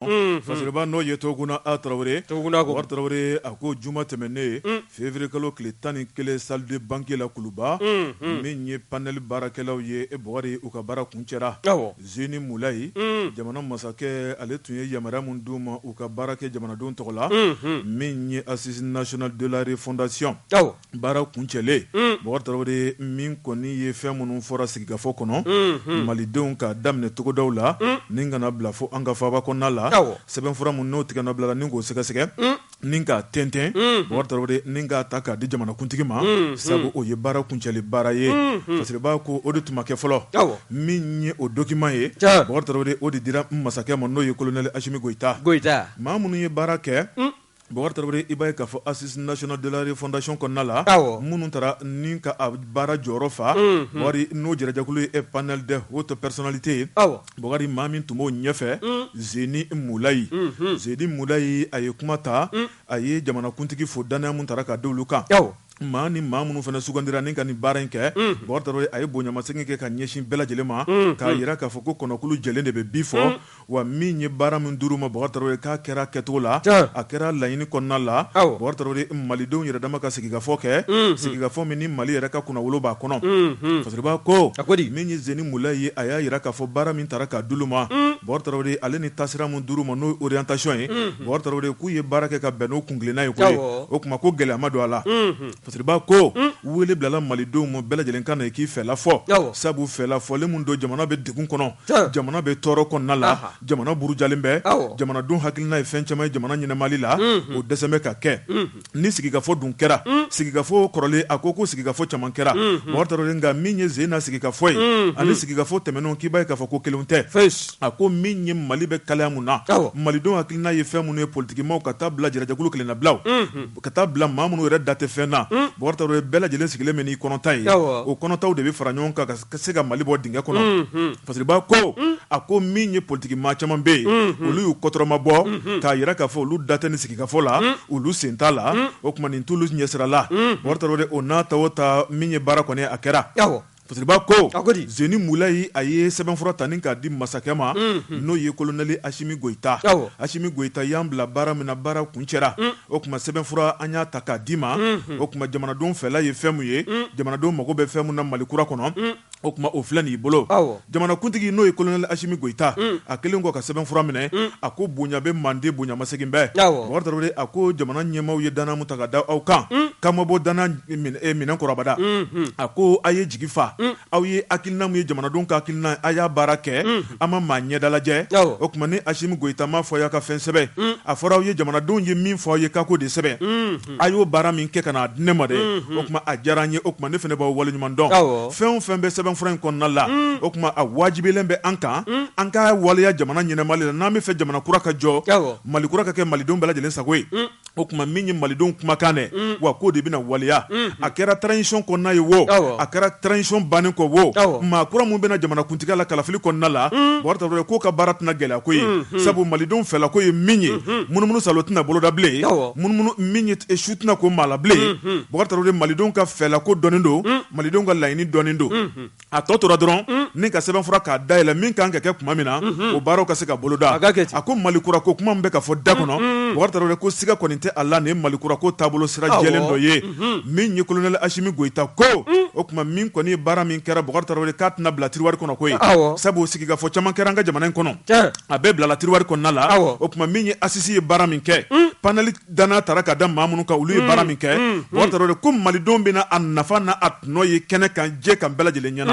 fasiriba n'o ye toguna a tarawele bɔkari tarawele a ko juma tɛmɛnen février kalo tile tan ni kelen salle de banquet la kuluba min ye panel baarakɛlaw ye e bɔkari u ka baara kuncɛra zeni mulayi jamana masakɛ ale tun ye yamaruya min d'u ma u ka baara kɛ jamanadenw tɔgɔ la min ye assise nationale de la refondation baara kuncɛlen bɔkari tarawele min kɔni ye fɛn minnu fɔra sigikafɔ kɔnɔ malidenw ka daminɛ togodaw la ni kana bila fo an ka faaba kɔnɔna la sɛbɛn fura minnu n'o tigɛ bila ni k'o sɛgɛsɛgɛ ni k'a tɛntɛn bɔkari ni k'a ta k'a di jamanakuntigi ma sabu o ye baara kuncɛli baara ye fasiriba ko o de tun ma kɛ fɔlɔ min ye o document ye bɔkari o de dira masakɛ ma n'o ye kolonɛli asimi goyita maa minnu ye baara kɛ Bɔkari Tarawele, i b'a ye k'a fɔ Assise nationale de la refondation kɔnɔna la, awɔ, minnu taara ni ka a baara jɔyɔrɔ fa, unhun, Bɔkari n'o jɛrɛjɛkulu ye panel des hautes personnalités awɔ, Bɔkari maa min tun b'o ɲɛfɛ, un, Zeni Mulayi, unhun, Zeni Mulayi a ye kuma ta, un, a ye jamanakuntigi fo dannaya min tara ka da olu kan, awɔ, maa ni maa minnu fana sugandira ni ka nin baara in kɛ, un, Bɔkari Tarawele a ye bonyamasegin kɛ ka ɲɛsin bɛɛ lajɛlen ma, unhun, k'a yira k'a fɔ ko kɔnɔkulu jɛlen de bɛ bi fɔ, un. Wa min ye baara min dir'u ma bɔkari tarawele k'a kɛra kɛcogo la a kɛra laɲini kɔnɔna la bɔkari tarawele malidenw yɛrɛ dama ka sigikafɔ kɛ sigikafɔ min ni mali yɛrɛ ka kunnawolo b'a kɔnɔ fasiriba ko a ko min ye zeni mulayi ye a y'a yira k'a fɔ baara min taara ka d'u ma bɔkari tarawele ale ni taasira min dir'u ma n'o orientation ye bɔkari tarawele k'u ye baara kɛ ka bɛn n'o kuntilenna ye o tuma ko gɛlɛya ma don a la fasiriba ko wele bilala malidenw ma bɛɛ lajɛlen ka na k'i fɛla fɔ sabu fɛla fɔlen min don jamana bɛ degun kɔnɔ jamana bɛ tɔɔrɔ kɔnɔna la jamana burujalen bɛ jamanadenw hakilina ye fɛn caman ye jamana ɲɛnamali la o dɛsɛlen bɛ ka kɛ ni sigikafɔ dun kɛra sigikafɔ kɔrɔlen a ko ko sigikafɔ caman kɛra bɔkari nka min ye sen na sigikafɔ ye ani sigikafɔ tɛmɛnenw k'i b'a ye k'a fɔ ko kelen tɛ a ko min ye mali bɛ kalaya mun na malidenw hakilina ye fɛn minnu ye politiki maaw ka taa bila jɛrɛjɛkulu kelennabilaw Ka taa bila maa minnu yɛrɛ da tɛ fɛn na bɔkari tarawele bɛɛ lajɛlen sigilen bɛ n'i kɔnɔta ye o kɔnɔtaw de bɛ fara ɲɔgɔn kan ka se ka mali bɔ dingɛ kɔnɔ fasiriba ko a ko min ye politiki maa caman bɛ yen olu y'u kɔtɔrɔma bɔ k'a yira k'a fɔ olu da tɛ nin sigikafɔ la olu sen t'a la o tuma nin t'olu ɲɛsira la bɔkari tarawele o n'a ta o ta min ye baara kɔni a kɛra Fasiriba ko a ko zeni mulayi a ye sɛbɛn fura ta ni k'a di masakɛ ma n'o ye kolonɛli asimi goyita asimi goyita y'an bila baara min na baara kuncɛra o tuma sɛbɛn fura an y'a ta k'a d'i ma o tuma jamanadenw fɛla ye fɛn min ye jamanadenw mago bɛ fɛn min na mali kura kɔnɔ o tuma o filɛ n'i bolo jamanakuntigi n'o ye kolonɛli asimi goyita a kɛlen kɔ ka sɛbɛn fura minɛ a ko bonya bɛɛ man di bonyamasegin bɔ a ko jamana ɲɛmaaw ye dannaya min ta ka da aw kan ka bɔ dan minɛn kɔrɔ abada a ko a ye jigi fa aw ye hakilina ye jamanadenw ka hakilina a y'a baara kɛ an ma maa ɲɛda lajɛ o tuma ni asimi goyita m'a fɔ a y'a ka fɛn sɛbɛn a fɔra aw ye jamanadenw ye min fɔ aw ye ka ko de sɛbɛn a y'o baara min kɛ ka n'a di ne ma dɛ o tuma a diyara n ye o tuma ne fana b'aw waleɲuman dɔn fɛn o fɛn bɛ sɛbɛnfura in kɔnɔna la o tuma a wajibilen bɛ an kan an k'a waleya jamana ɲɛnama la n'an b'a fɛ jamana kura ka jɔ mali kura ka kɛ malidenw bɛɛ lajɛlen sago ye o tuma min ye malidenw kumakan dɛ wa k'o de bɛna waleya a kɛra transition kɔnɔna ye wo a kɛra transition bannen kɔ wo maa kura minnu bɛ na jamanakuntigiya la kalafili kɔnɔna la ye k'o ka baara tɛna gɛlɛya koyi sabu malidenw fɛla ko ye min ye munumunu saalo tɛna boloda bilen su tɛna ko maa la bilen malidenw ka fɛla ko dɔnnen don malidenw ka laɲini dɔnnen don a tɔ tora dɔrɔn mm. ni ka sɛbɛnfura k'a dayɛlɛ min kan ka kɛ tuma min na mm-hmm. o baaraw ka se ka boloda a ko malikura ko kuma min bɛ ka fɔ da kɔnɔ mm-hmm. bubakari tarawele ko siga kɔni tɛ a la nin ye malikura ko taabolo sira jɛlen dɔ ye mm-hmm. min ye kolonɛli asimi goyita ko mm. o tuma min kɔni ye baara min kɛra bubakari tarawele k'a tɛna bila tiriwari kɔnɔ koyi sabu sigikafɔ caman kɛra an ka jamana in kɔnɔ a bɛɛ bilala tiriwari kɔnɔna la o tuma min ye asisi ye baara min kɛ mm. panɛli dannaya taara ka da maa minnu kan olu ye mm, baara min kɛ mm, mm. bubakari tarawele ko malidenw bɛna a nafa n'a tɔnɔ ye kɛnɛ kan jɛ kan bɛɛ lajɛlen ɲɛna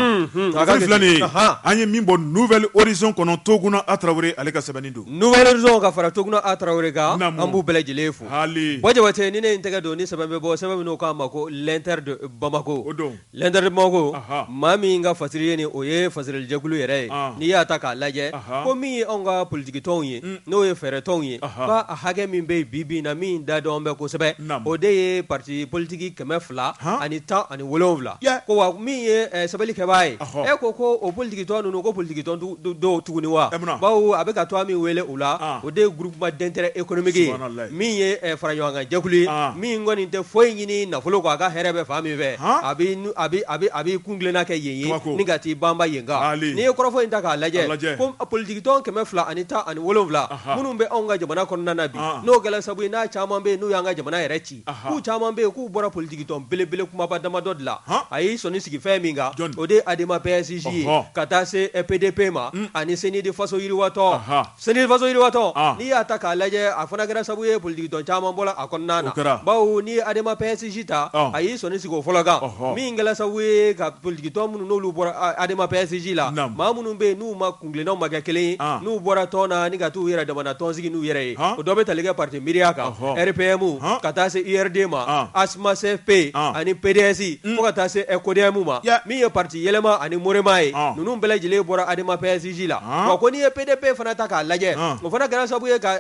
a filɛ nin ye an ye min bɔ nouvelle horizon kɔnɔ toguna a tarawele ale ka sɛbɛnni don nouvelle horizon ka fara toguna a tarawele kan an b'u bɛɛ lajɛlen fo hali bɔ jabate ni ne in tɛgɛ don ni sɛbɛn bɛ bɔ sɛbɛn min k'a ma ko l'inter de bamako o don l'inter de bamako maa min ka fasiri ye ni o ye fasirilijɛkulu yɛrɛ ye n'i y'a ta k'a lajɛ ko min ye anw ka politigi tɔnw ye n'o ye fɛɛrɛ tɔnw ye ba a hakɛ min bɛ bi bi in na min da dɔn bɛ kosɛbɛ o de ye pati politigi kɛmɛ fila ani tan ani wolowula ko wa min ye sɛbɛnni kɛbaa ye e ko ko o politigi tɔn ninnu ko politigi tɔn don tuguni wa bawo a bɛ ka to min wele u la o de ye groupement d'intérêt économique ye min ye faraɲɔgɔnkan jɛkulu ye min kɔni tɛ foyi ɲini nafolo kɔ a ka hɛrɛ bɛ fan min fɛ a b'i kuntilenna kɛ yen ye ni ka t'i banba yen kan n'i ye kɔrɔfɔ in ta k'a lajɛ ko politigi tɔn kɛmɛ fila ani tan ani wolowula minnu bɛ anw ka jamana kɔnɔna na bi n'o kɛla sabu ye n'a caman bɛ yen n'u y'an ka jamana yɛrɛ ci k'u caman bɛ yen k'u bɔra politikitɔn belebele kumaba damadɔ de la, han, a y'i sɔnni sigi fɛn min kan, jɔni, o de ye Adema PASJ ye, ɔhɔ, ka taa se PDP ma, un, ani CNID faso yiriwatɔn, anhan, CNID faso yiriwatɔn, an, n'i y'a ta k'a lajɛ a fana kɛra sabu ye politikitɔn caman bɔra a kɔnɔna na, o kɛra, bawo n'i ye Adema PASJ ta, ɔn, a y'i sɔnni sigi o fɔlɔ kan, ɔhɔ, min kɛra sabu ye ka politikitɔn minnu n'olu bɔra Adema PASJ la, naamu, maa minnu bɛ yen n'u ma tilennaw ma kɛ kelen ye n'u bɔra tɔn na ani ka taa u yɛrɛ damana tɔn sigi n'u yɛrɛ ye o dɔ bɛ tali kɛ pati MIRIA kan RPM ka taa se URD ma ASMA CFP ani PDS fo ka taa se CODEM ma min ye pati yɛlɛma ani MOREMA ye ninnu bɛɛ lajɛlen bɔra ADEMA PASJ la wa ko n'i ye PDP fana ta k'a lajɛ o fana kɛra sababu ye ka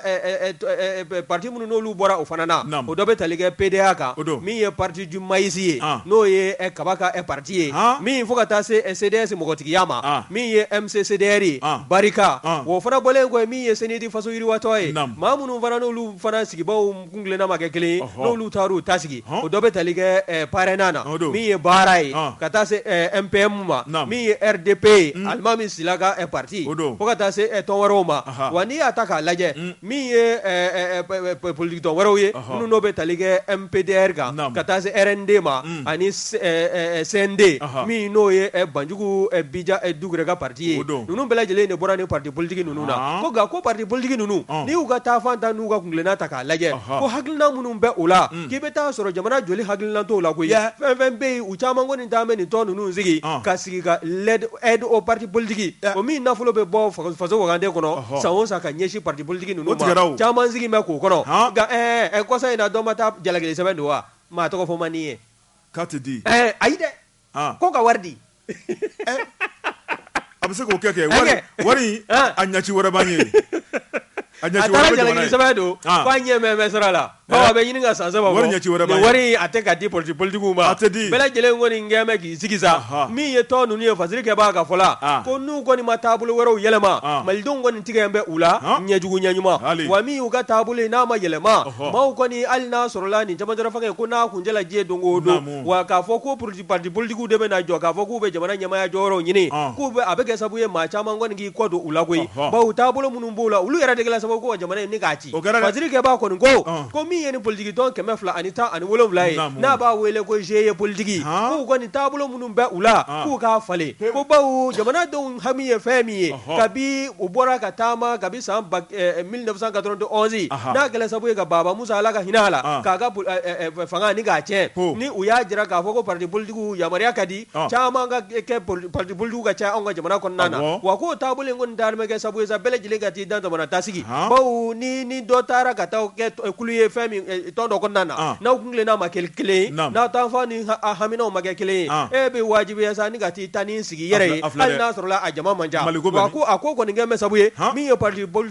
pati minnu n'olu bɔra o fana na o dɔ bɛ tali kɛ PDA kan min ye pati du maïs ye n'o ye kaba ka p ye min fo ka taa se CDS mɔgɔtigiya ma min ye MCCDR ye BARICA o fana bɔlen kɔ min ye CNID faso yiriwatɔn ye maa minnu fana n'olu fana sigibaw kuntilenna ma kɛ kelen ye n'olu taar'u ta sigi o dɔ bɛ tali kɛ PARENA na min ye BARA ye ka taa se MPM ma min ye RDP ye Alimami Sila ka pati o don fo ka taa se tɔn wɛrɛw ma wa n'i y'a ta k'a lajɛ min ye politiki tɔn wɛrɛw ye minnu n'o bɛ tali kɛ MPDR kan ka taa se RND ma ani CND min n'o ye Banjugu Bija Dukure ka pati ye ninnu bɛɛ lajɛlen de bɔra ni pati politiki ninnu na ko nka ko pati politiki ninnu n'i y'u ka taafan ta n'u ka kuntilenna ta k'a lajɛ ko hakilina minnu bɛ u la k'i bɛ taa sɔrɔ jamana jɔli hakilina t'u la koyi fɛn fɛn bɛ yen u caman kɔni taama bɛ nin tɔn ninnu sigi ka sigi ka l'aide aux partis politiques o min nafolo bɛ bɔ faso waganden kɔnɔ san o san ka ɲɛsin pati politiki ninnu ma caman sigi bɛ k'o kɔnɔ kɔsa in na dɔ ma taa jalakili sɛbɛn don wa maa tɔgɔ fɔ man di ye k'a tɛ di ayi dɛ ko ka wari di a bɛ se k'o kɛ kɛ wari a ɲɛci wɛrɛ ye a sɛbɛn don k'a ɲɛ sira a la Ɔ bɛ ɲini ka san saba bɔ nin wari a tɛ ka di pati politikiw ma a tɛ di bɛɛ lajɛlen kɔni gɛn bɛ k'i sigi sa min ye tɔn ninnu ye fasiri kɛbaa ka fɔ la ko n'u kɔni ma taabolo wɛrɛw yɛlɛma malidenw kɔni tigɛlen bɛ u la ɲɛjugu ɲɛɲuman wa min y'u ka taabolo ye n'a ma yɛlɛma maaw kɔni hali n'a sɔrɔla nin cɛmancɛla fanga ye ko n'a kuncɛla diɲɛ don o don wa k'a fɔ ko politi pati politikiw de bɛ na jɔ k'a fɔ k'u bɛ jamana ɲɛmaya jɔyɔrɔw ɲini k'u bɛ a bɛ kɛ sababu ye maa caman kɔni k'i kɔ don u la koyi bawo taabolo minnu b'u la olu yɛrɛ de kɛla sababu ko jamana in k'a ci O kɛra dɛ, fasiri kɛbaa kɔni ko, ɔn, ko min ye nin politiki tɔn kɛmɛ fila ani tan ani wolonwula ye, naamu, n'a b'a wele ko GIE politique han, k'u kɔni taabolo minnu bɛ u la, an, k'u k'a falen, pewu, ko bawo jamanadenw hami ye fɛn min ye, ɔhɔ, kabi u bɔra ka taama kabi san ba ɛ ɛ 1991 anhan, n'a kɛla sababu ye ka Baaba Musa, Ala ka hinɛ a la, an, k'a ka ɛ ɛ fanga ni k'a tiɲɛ, ko, ni u y'a jira k'a fɔ ko partis politiques yamaruya ka di caman ka kɛ partis politiques ka caya anw ka jamana kɔnɔna na wa k'o taabolo kɔni dalen bɛ kɛ sabu ye sa bɛɛ lajɛlen ka t'i damana ta sigi bawo ni dɔ taara ka taa kɛ kulu ye fɛn tɔn dɔ kɔnɔna na n'aw kuntilenna ma kɛ kelen ye n'aw taafan ni haminaw ma kɛ kelen ye e bɛ wajibiya sa ni ka taa i ta nin sigi i yɛrɛ ye hali n'a sɔrɔla a jama man ca wa a ko kɔni kɛ bɛ sabu ye min ye p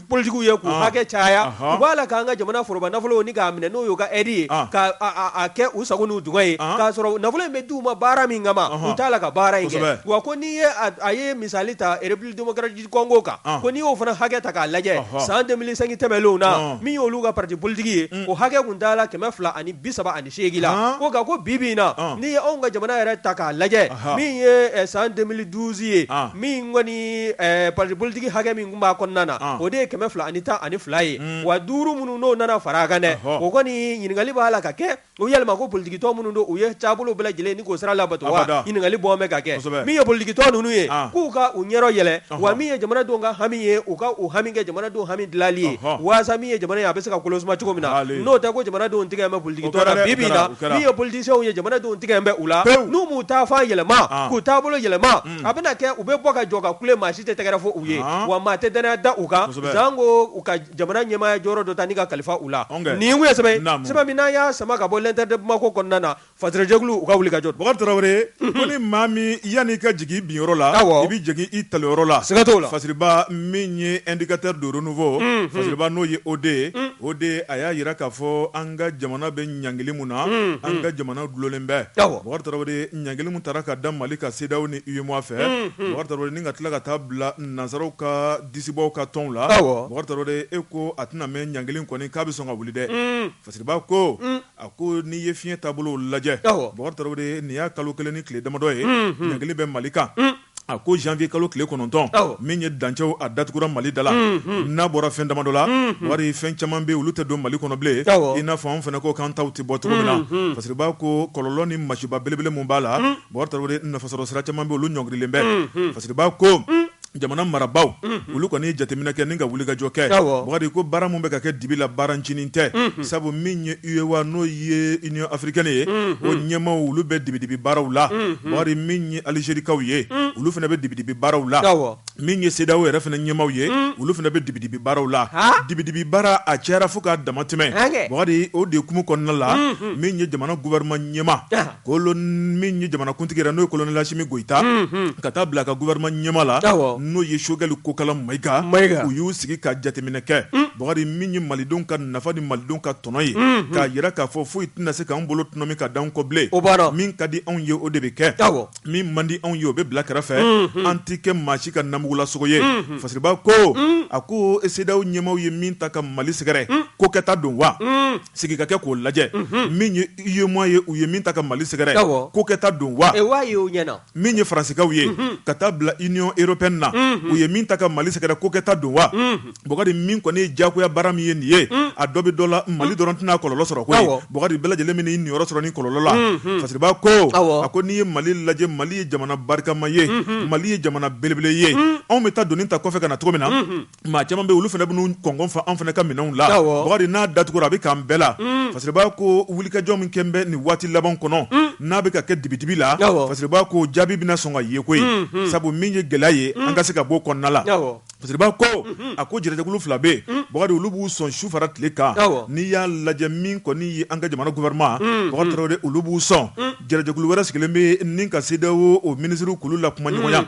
politiques ye k'u Ɔnhɔn, hakɛ caya, ɔnhɔn, u b'a la k'an ka jamana foroba nafolo ni k'a minɛ n'o y'u ka aide ye, ɔn, k'a kɛ u sago n'u dungɔ ye, ɔnhɔn, k'a sɔrɔ nafolo in bɛ d'u ma baara min kama, ɔnhɔn, u t'a la ka baara in kɛ, kosɛbɛ, wa ko n'i ye a a ye misali ta République démocratique du Congo kan, ɔn, ko n'i y'o fana hakɛ ta k'a lajɛ, ɔnhɔn, san 2005 tɛmɛnenw na, ɔn, min y'olu ka parti politique ye, un, o hakɛ tun taala 230 ani 8 la ko nka ko bi bi in na n'i ye anw ka jamana yɛrɛ ta k'a lajɛ min ye san 2012 ye min kɔni parti politique hakɛ min tun b'a kɔnɔna na o de ye 212 ye wa 5 minnu n'o nana far'a kan dɛ o kɔni ɲininkali b'a la ka kɛ o yɛlɛma ko politique tɔn minnu don u ye taabolo bɛɛ lajɛlen ni k'o sira labato wa ɲininkali bɔ n bɛ ka kɛ min ye politique tɔn ninnu ye k'u ka u ɲɛyɔrɔ yɛlɛ wa min ye jamanadenw ka hami ye u ka hami kɛ jamanadenw hami dilanli ye waasa min ye jamana ye a bɛ se ka kolosuma cogo min na n'o tɛ ko jamanadenw tigɛ bɛ politique tɔn na bi na min ye politiciens ye jamanadenw tigɛ bɛ u la n'u m'u taafan yɛlɛma k'u taabolo yɛlɛma a bɛna kɛ u bɛ bɔ ka jɔ ka kule maa si tɛ tɛgɛrɛ fɔ u ye wa maa tɛ dannaya da u kan sanko u ka jamana ɲɛmaaya jɔyɔrɔ dɔ ta ni ka kalifa u la nin ye sɛbɛn min n'an y'a sama ka bɔ L'Inter de Bamako kɔnɔna na Fajɛkulu u ka wuli kajɔ dɔgɔ tarawele ko ni maa min yanni' ka jigin biyɔrɔ la i bɛ jigin i tayɔrɔ la sɛgɛtɔ la fasiba min ye n ka taa don n fɔ fa n'o ye o de ye o de a y'a jira k'a fɔ an ka jamana bɛ ɲgkelen min na an ka jamana dulonnen bɛɛ ɲgkelen taara ka da mali ka sedaw ni i yema fɛ ni ka tila ka taa bila nanzsaraww ka disibɔ ka tɔn la e ko a tɛna bɛ ɲgkelen kɔni k'a bɛ sɔn ka wuli dɛ fasiba ko A ko n'i ye fiɲɛ taabolo lajɛ bɔkari tarawele nin y'a kalo kelen ni tile damadɔ ye ɲangili bɛ mali kan a ko janvier kalo tile kɔnɔntɔn min ye dancɛw a datugura mali da la n'a bɔra fɛn damadɔ la bɔkari fɛn caman bɛ olu tɛ don mali kɔnɔ bilen i n'a fɔ an fana ko k'an taw tɛ bɔ cogo min na fasiriba ko kɔlɔlɔ ni masiba belebele min b'a la bɔkari tarawele nafasɔrɔ sira caman bɛ olu ɲɔngirilen bɛ fasiriba ko jamana marabaaw olu kɔni ye jateminɛ kɛ ni ka wulikajɔ kɛ bɔkari ko baara min bɛ ka kɛ dibi la baarancinin tɛ sabu min ye UA n'o ye Union africaine ye o ɲɛma olu bɛ dibidibi baaraw la bɔkari min ye alizerikaw ye olu fana bɛ dibidibi baaraw la min ye CEDEAO yɛrɛ fana ɲɛmaw ye olu fana bɛ dibidibi baaraw la dibidibi baara a cayara fo k'a damatɛmɛ bɔkari o de ye kumu kɔnɔna la min ye jamana gouvernement ɲɛma Kolon min ye jamanakuntigi yɛrɛ n'o ye colonel Assimi Goïta ka taa bila a ka gouvernement ɲɛma la n'o ye Choguel Kokala Maïga u y'u sigi ka jateminɛ kɛ bɔkari min ye malidenw ka nafa ni malidenw ka tɔnɔ ye k'a jira k'a fɔ foyi tɛna se k'an bolo tɔnɔmi ka d'an kɔ bilen o b'a min ka di anw ye o de bɛ kɛ min man di anw ye o bɛ bila kɛrɛfɛ an tɛ kɛ maa si ka namugulasogo ye fasiriba ko a ko CEDEAO ɲɛmaw ye min ta ka mali sɛgɛrɛ ko kɛta don wa sigi ka kɛ k'o lajɛ min ye UEMOA ye u ye min ta ka mali sɛgɛrɛ ko kɛta don wa min ye faransikaw ye ka taa bila union européenne na u ye min ta ka mali sɛgɛrɛ ko kɛta don wa bubakari min kɔni ye jagoya baara min ye nin ye a dɔ bɛ dɔ la mali dɔrɔn tɛna kɔlɔlɔ sɔrɔ koyi bubakari bɛɛ lajɛlen bɛn'i niyɔrɔ sɔrɔ nin kɔlɔlɔ la fasiriba ko a ko n'i ye mali lajɛ mali ye jamana barikama ye mali ye jamana belebele ye anw bɛ taa doni ta kɔfɛ ka na cogo min na Maa caman bɛ olu fana bɛn'u kɔngɔ fa an fana ka minɛnw la bubakari n'a datugura a bɛ k'an bɛɛ la fasiriba ko wulikajɔ min kɔni bɛ nin waati laban kɔnɔ n'a bɛ ka kɛ dibidibi la fasiriba ko jaabi bɛna sɔn ka ye koyi sabu min ye gɛlɛya ye an ka se ka bɔ kɔnɔna la fasiriba ko a ko jɛrɛjɛkulu fila bɛ bubakari olu b'u sɔn su fara tile kan n'i y'a lajɛ min kɔni ye an ka jamana gouvernement bubakari tarawele olu b'u sɔn Jɛrɛjɛkulu wɛrɛ sigilen bɛ ni ka CEDEAO o minisiriw kulu la kumaɲɔgɔnya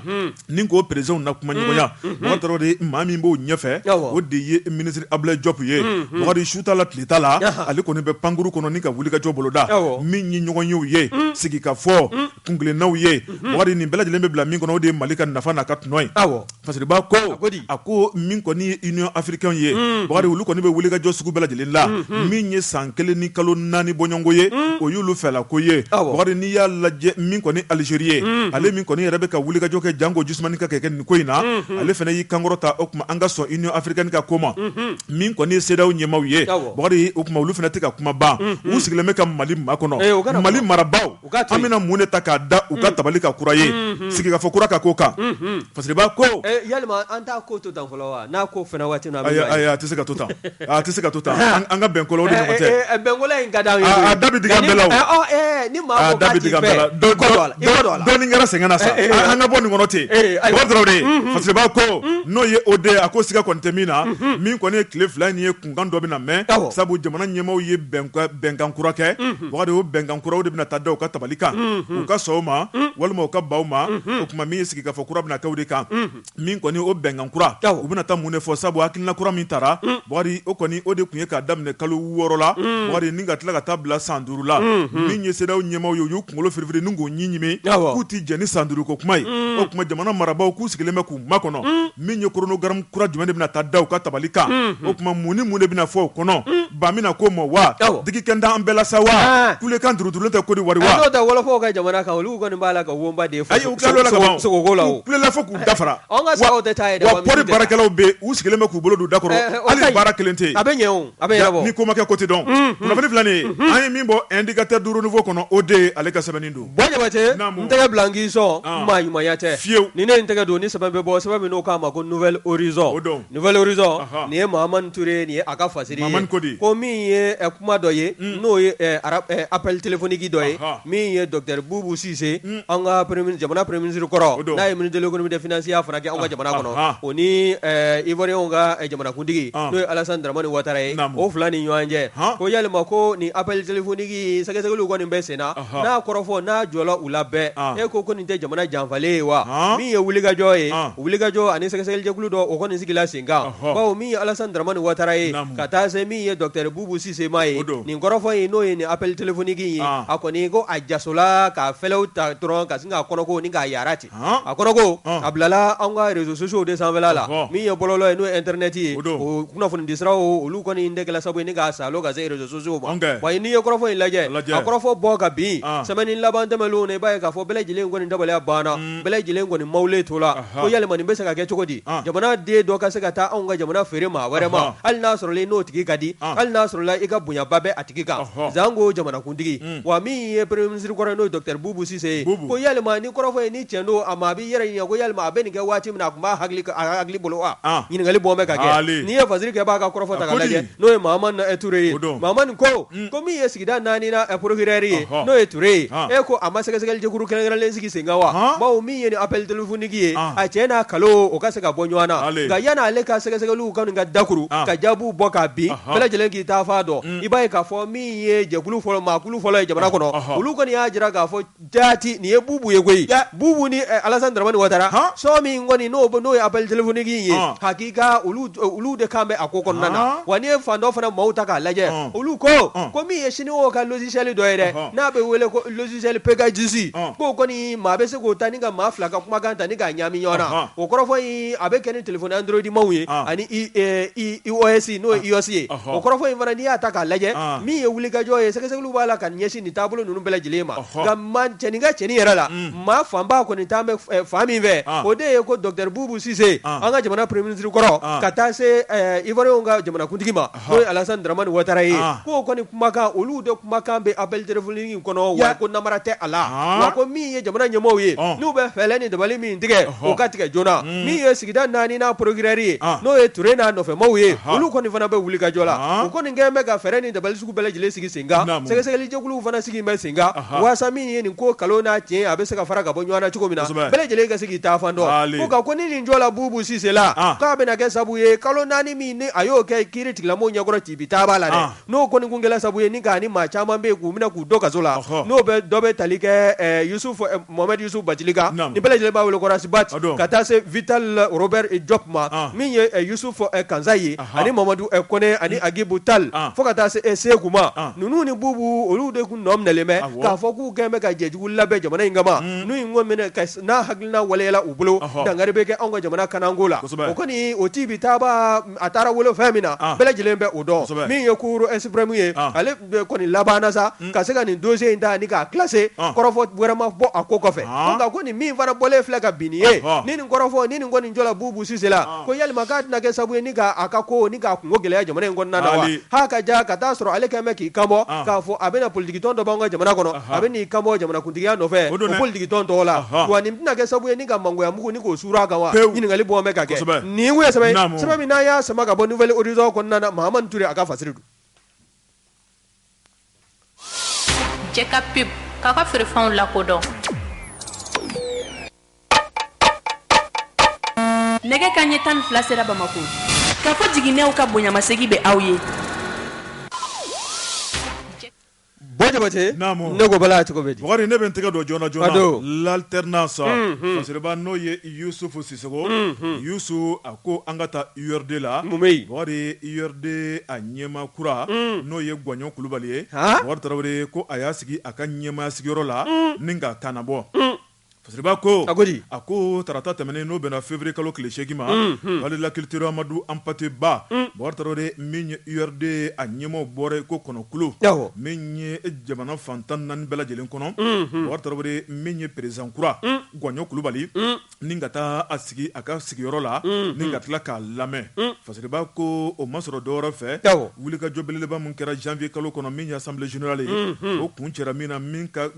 ni k'o perezidanw na kumaɲɔgɔnya bubakari tarawele maa min b'o ɲɛfɛ o de ye minisiri ablaye diop ye bubakari su t'a la tile t'a la ale kɔni bɛ pankurun kɔnɔ ni ka wulikajɔ boloda min ye ɲɔgɔnyew ye sigikafɔ kunkelennaw ye bubakari nin bɛɛ lajɛlen bɛ bila min kɔnɔ o de ye mali ka nafa n'a ka tɔnɔ ye Fasiriba ko a ko min kɔni ye union africaine ye bubakari olu kɔni bɛ wulikajɔ sugu bɛɛ lajɛlen la min ye san kelen ni kalo naani bɔɲɔgɔnko ye o y'olu fɛla ko ye bubakari n'i y'a lajɛ min kɔni algérie ye ale min kɔni yɛrɛ bɛ ka wulikajɔ kɛ janko jisumanin ka kɛ kɛ nin ko in na ale fana y'i kankɔrɔta o kuma an ka sɔn union africaine ka ko ma min kɔni ye CEDEAO ɲɛmaw ye bubakari o kuma olu fana tɛ ka kuma ban u sigilen bɛ ka mali makɔnɔ mali marabagaw an bɛna mun de ta k'a da u ka tabali kan kura ye sigikafɔ kura ka k'o kan fasiriba ko yala an t'a ko to tan fɔlɔ wa n'a ko fana waati a tɛ se ka to tan a tɛ se ka to tan an ka bɛn ko la a da bɛ digi an bɛɛ la dɔɔnin kɛra sɛgɛn na sa an ka bɔ nin kɔnɔ ten bubakari tarawele fasiriba ko n'o ye o de a ko siga kɔni tɛ min na min kɔni ye tile fila in ye kunkan dɔ bɛna mɛn sabu jamana ɲɛmaaw ye bɛnkan kura kɛ bubakari o bɛnkan kura o de bɛna taa da u ka tabali kan u ka sɔn o ma walima u ka ban o ma o kuma min ye sigikafɔ kura bɛna kɛ o de kan min kɔni o bɛnkan kura u bɛna taa mun de fɔ sabu hakilina kura min taara bubakari o kɔni o de tun ye k'a daminɛ kalo wɔɔrɔ la bubakari ni ka tila ka taa bila san duuru la min ye CEDEAO ɲɛmaaw ye u y'u kunkolo firifiri ni k'u ɲin ɲimi k'u tɛ jɛn ni san duuru ko kuma ye o kuma jamana marabagaw k'u sigilen bɛ k'u makɔnɔ min ye chronogramme kura jumɛn de bɛna taa da u ka tabali kan o kuma mun ni mun de bɛna fɔ o kɔnɔ ba bɛna na ko ma wa digi kɛra an bɛɛ la sa wa kulekan durudurulen tɛ kodiwari wa n'o tɛ wɔlɔfɔw ka jamana kan olu kɔni b'a la ka woba de fɔ u kulela fo k'u dafara pɔri baarakɛlaw bɛ u sigilen bɛ k'u bolo don u da kɔrɔ hali baara kelen tɛ a bɛ ni ko ma kɛ ko tɛ dɔn kunnafoni filɛ nin ye an ye min bɔ indicateur du renouveau kɔnɔ o de ale ka sɛbɛnni don Bɔ Jabate n tɛgɛ bila n k'i sɔn maa ɲumanya tɛ fiyewu ni ne n tɛgɛ don ni sɛbɛn bɛ bɔ sɛbɛn min n'o k'a ma ko Nouvel Horizon Nouvel Horizon nin ye Mahamane Ture nin ye a ka fasiri ko min ye kuma dɔ ye n'o ye appel téléphonique dɔ ye min ye docteur Boubou Cisse an ka jamana premier ministre kɔrɔ n'a ye ministre de l'économie des finances ya fana kɛ an ka jamana kɔnɔ o ni Ivoirienw ka jamanakuntigi n'o ye Alassane Dramane Ouattara ye o fila ni ɲɔgɔn cɛ ko yalima ko ni appel téléphonique sɛgɛsɛgɛliw kɔni bɛ sen na n'a kɔrɔfɔ n'a jɔla u la bɛɛ e ko ko nin tɛ jamana janfalen ye wa min ye wulikajɔ ye wulikajɔ ani sɛgɛsɛgɛlijɛkulu dɔ o kɔni sigila sen kan bawo min ye Alassane Dramane Ouattara ye ka taa se min ye docteur Boubou Cisse ma ye nin kɔrɔfɔ ye n'o ye nin appel téléphonique ye a kɔni ko a jasola ka fɛlɛw ta dɔrɔn ka sin k'a kɔnɔko ni k'a yaara ten a kɔnɔko a bilala an ka réseaux sociaux de sanfɛ la min ye bɔlɔlɔ ye n'o ye internet ye o kunnafonidisiraw olu kɔni de kɛla sababu ye ni k'a salon ka se réseaux sociaux ma wa n'i ye kɔrɔfɔ in lajɛ a kɔrɔfɔ bɔ ka bin semaine laban tɛmɛnlen na i b'a ye k'a fɔ bɛɛ lajɛlen kɔni dabaliya banna bɛɛ lajɛlen kɔni mawule to la ko yalima nin bɛ se ka kɛ cogo di jamana den dɔ ka se ka taa anw ka jamana feere maa wɛrɛ ma hali n'a sɔrɔ i n'o tigi ka di hali n'a sɔrɔ i ka bonyaba bɛ a tigi kan janko jamanakuntigi wa min ye premier ministre kɔrɔ n'o ye docteur Boubou Cisse ye ko yalima ni kɔrɔfɔ ye ni cɛn don a ma a b'i yɛrɛ ɲininka ko yalima a bɛ nin kɛ waati min na a tun b'a hakili bolo wa ɲininkali bɔ bɛ ka kɛ n'i ye fasirikɛbaa ka kɔrɔfɔ ta k'a lajɛ n'o ye Mahamane Ture ye Mahamane ko min ye sigida naaninan procureur ye n'o ye Ture ye e ko a ma sɛgɛsɛgɛlikulu kɛrɛnkɛrɛnlen sigi sen kan wa bawo min ye appel téléphonique ye a cɛn n'a nkalon o ka se ka bɔ ɲɔgɔn na nka yann'ale ka sɛgɛsɛgɛli ka ka dakuru ka jaabiw bɔ k'a bin bɛɛ lajɛlen k'i taafan dɔn i b'a ye k'a fɔ min ye jɛkulu fɔlɔ maakulu fɔlɔ ye jamana kɔnɔ olu kɔni y'a jira k'a fɔ jaati nin ye Boubou ye koyi Boubou ni Alassane Dramane Ouattara son min kɔni n'o bɔ n'o ye appel téléphonique ye hakika olu de kan bɛ a ko kɔnɔna na wa n'i ye fan dɔ fana maaw ta k'a lajɛ olu ko ko min ye Chinois ka logiciel dɔ ye dɛ n'a bɛ wele ko logiciel Pegasus k'o kɔni maa bɛ se k'o ta ni ka maa fila ka kumakan ta ni k'a ɲagami ɲɔgɔn na o kɔrɔfɔ a bɛ kɛ ni téléphone Android maaw ye ani iOS n'o ye iOS ye o kɔrɔfɔ in fana n'i y'a ta k'a lajɛ min ye wulikajɔ ye sɛgɛsɛgɛliw b'a la ka ɲɛsin nin taabolo ninnu bɛɛ lajɛlen ma nka ma cɛnin ka cɛnin yɛrɛ la maa fanba kɔni taalen bɛ fan min fɛ o de ye ko docteur Boubou Cisse an ka jamana premier ministre kɔrɔ ka taa se Ivoirienw ka jamanakuntigi ma n'o ye Alassane Dramane Ouattara ye, an, k'o kɔni kumakan olu de kumakan bɛ appel téléphonique in kɔnɔ, wa ko namara tɛ a la, an, wa ko min ye jamana ɲɛmaaw ye, ɔn, n'u bɛ fɛɛrɛ ni dabali min tigɛ, ɔhɔ, o ka tigɛ joona, un, min ye sigida naaninan procureur ye, an, n'o ye Ture n'a nɔfɛmaaw ye, anhan, olu kɔni fana bɛ wulikajɔ la, an, u kɔni kɛlen bɛ ka fɛɛrɛ ni dabali sugu bɛɛ lajɛlen sigi sen kan, naamu, sɛgɛsɛgɛlijɛkuluw fana sigi bɛ sen kan, anhan, waasa min ye nin ko nkalon n'a tiɲɛ a bɛ se ka fara ka bɔ ɲɔgɔn na cogo min na, kosɛbɛ, bɛɛ lajɛlen ka se k'i taafan dɔn, haali, ko nka ko ni nin jɔla Boubou Cisse la, an, k'a bɛna kɛ sababu ye kalo naani min ni a y'o kɛ kiiritigilamɔgɔw ɲɛkɔrɔ tibitaba la dɛ, an, n'o kɔni tun kɛra sababu ye ni ka ni maa caman bɛ yen k'u minɛ k'u don kaso la, ɔhɔ, n'o bɛ dɔ bɛ tali kɛ ɛ Yusufu ɛ Mohamɛdi Yusufu Batili kan, naamu, ni bɛɛ lajɛlen b'a wele ko Rasibati, o don, ka taa se Vital Robert Jɔpu ma, an, min ye ɛ Yusufu ɛ Kansaye, ahan, ani Mamadu ɛ Kone ani Agibu Tali, an, fo ka taa se ɛ Seku ma, an, ninnu ni Bubu olu de tun nɔ minɛlen bɛ, awɔ, k'a fɔ k'u kɛlen bɛ ka jɛjugu labɛn jamana in kama, un, n'u ye ɲɔgɔn minɛ ka n'a hakilina waleyala u bolo dankari bɛ kɛ anw ka jamana kanako la o kɔni o tibitaba a taara wolo fɛn min na bɛɛ lajɛlen bɛ o dɔn min ye cour suprême ye ale kɔni labanna sa ka se ka nin dossier in ta ni k'a classer kɔrɔfɔ wɛrɛ ma bɔ a ko kɔfɛ nka ko nin min fana bɔlen filɛ ka bin nin ye ni nin kɔrɔfɔ ni nin kɔni jɔra Bubu Sise la ko yala k'a tɛna kɛ sabu ye k'a ka ko ni k'a kunko gɛlɛya jamana in kɔnɔna na wa ka ja ka taa'a sɔrɔ ale kɛlen bɛ k'i kanbɔ k'a fɔ a bɛna politigi tɔn dɔ b'an ka jamana kɔnɔ a bɛn'i kanbɔ jamanakuntigiya nɔfɛ o don politigitɔn tɔgɔ la, anhan, wa nin tɛna kɛ sababu ye ni ka mangoyamugu ni k'o suuru a kan wa, pewu, ɲininkali bɔn bɛ ka kɛ, kosɛbɛ, nin ye kun ye sɛbɛn ye, naamu, sɛbɛn min n'an y'a sama ka bɔ Nouvel Horizon kɔnɔna na Mahamani Ture a ka fasiri don. Jɛ ka pub k'aw ka feerefɛnw lakodɔn. Nɛgɛ kanɲɛ tan ni fila sera Bamako. Kafo Jiginɛw ka bonyamasegin bɛ aw ye. Bon jabate ne ko bala cogo bɛ di Bɔkari ne bɛ n tɛgɛ don joona joona l'Alternance masaba n'o ye Yusufu Sisɔkɔ Yusufu a ko an ka taa URD la Bɔkari URD a ɲɛmaa kura n'o ye Gwaɲɔ Kulubali ye Bɔkari Tarawele ko a y'a sigi a ka ɲɛmaaya sigiyɔrɔ la ni ka kanbɔ Fasiriba ko a a ko tarata tɛmɛnen n'o bɛnna février kalo tile seegin ma palais de la culture Amadu Hampate Ba Bɔkari Tarawele min ye URD a ɲɛmaaw bɔra yen ko kɔnɔkulu min ye jamana fantan naani bɛɛ lajɛlen kɔnɔ Bɔkari Tarawele min ye président kura Gwaɲɔ Kulubali ni ka taa a sigi a ka sigiyɔrɔ la ni ka tila k'a lamɛn fasiriba ko o ma sɔrɔ dɔwɛrɛ fɛ wulikajɔ belebeleba min kɛra janvier kalo kɔnɔ min ye assemblée générale ye o kun cɛ min na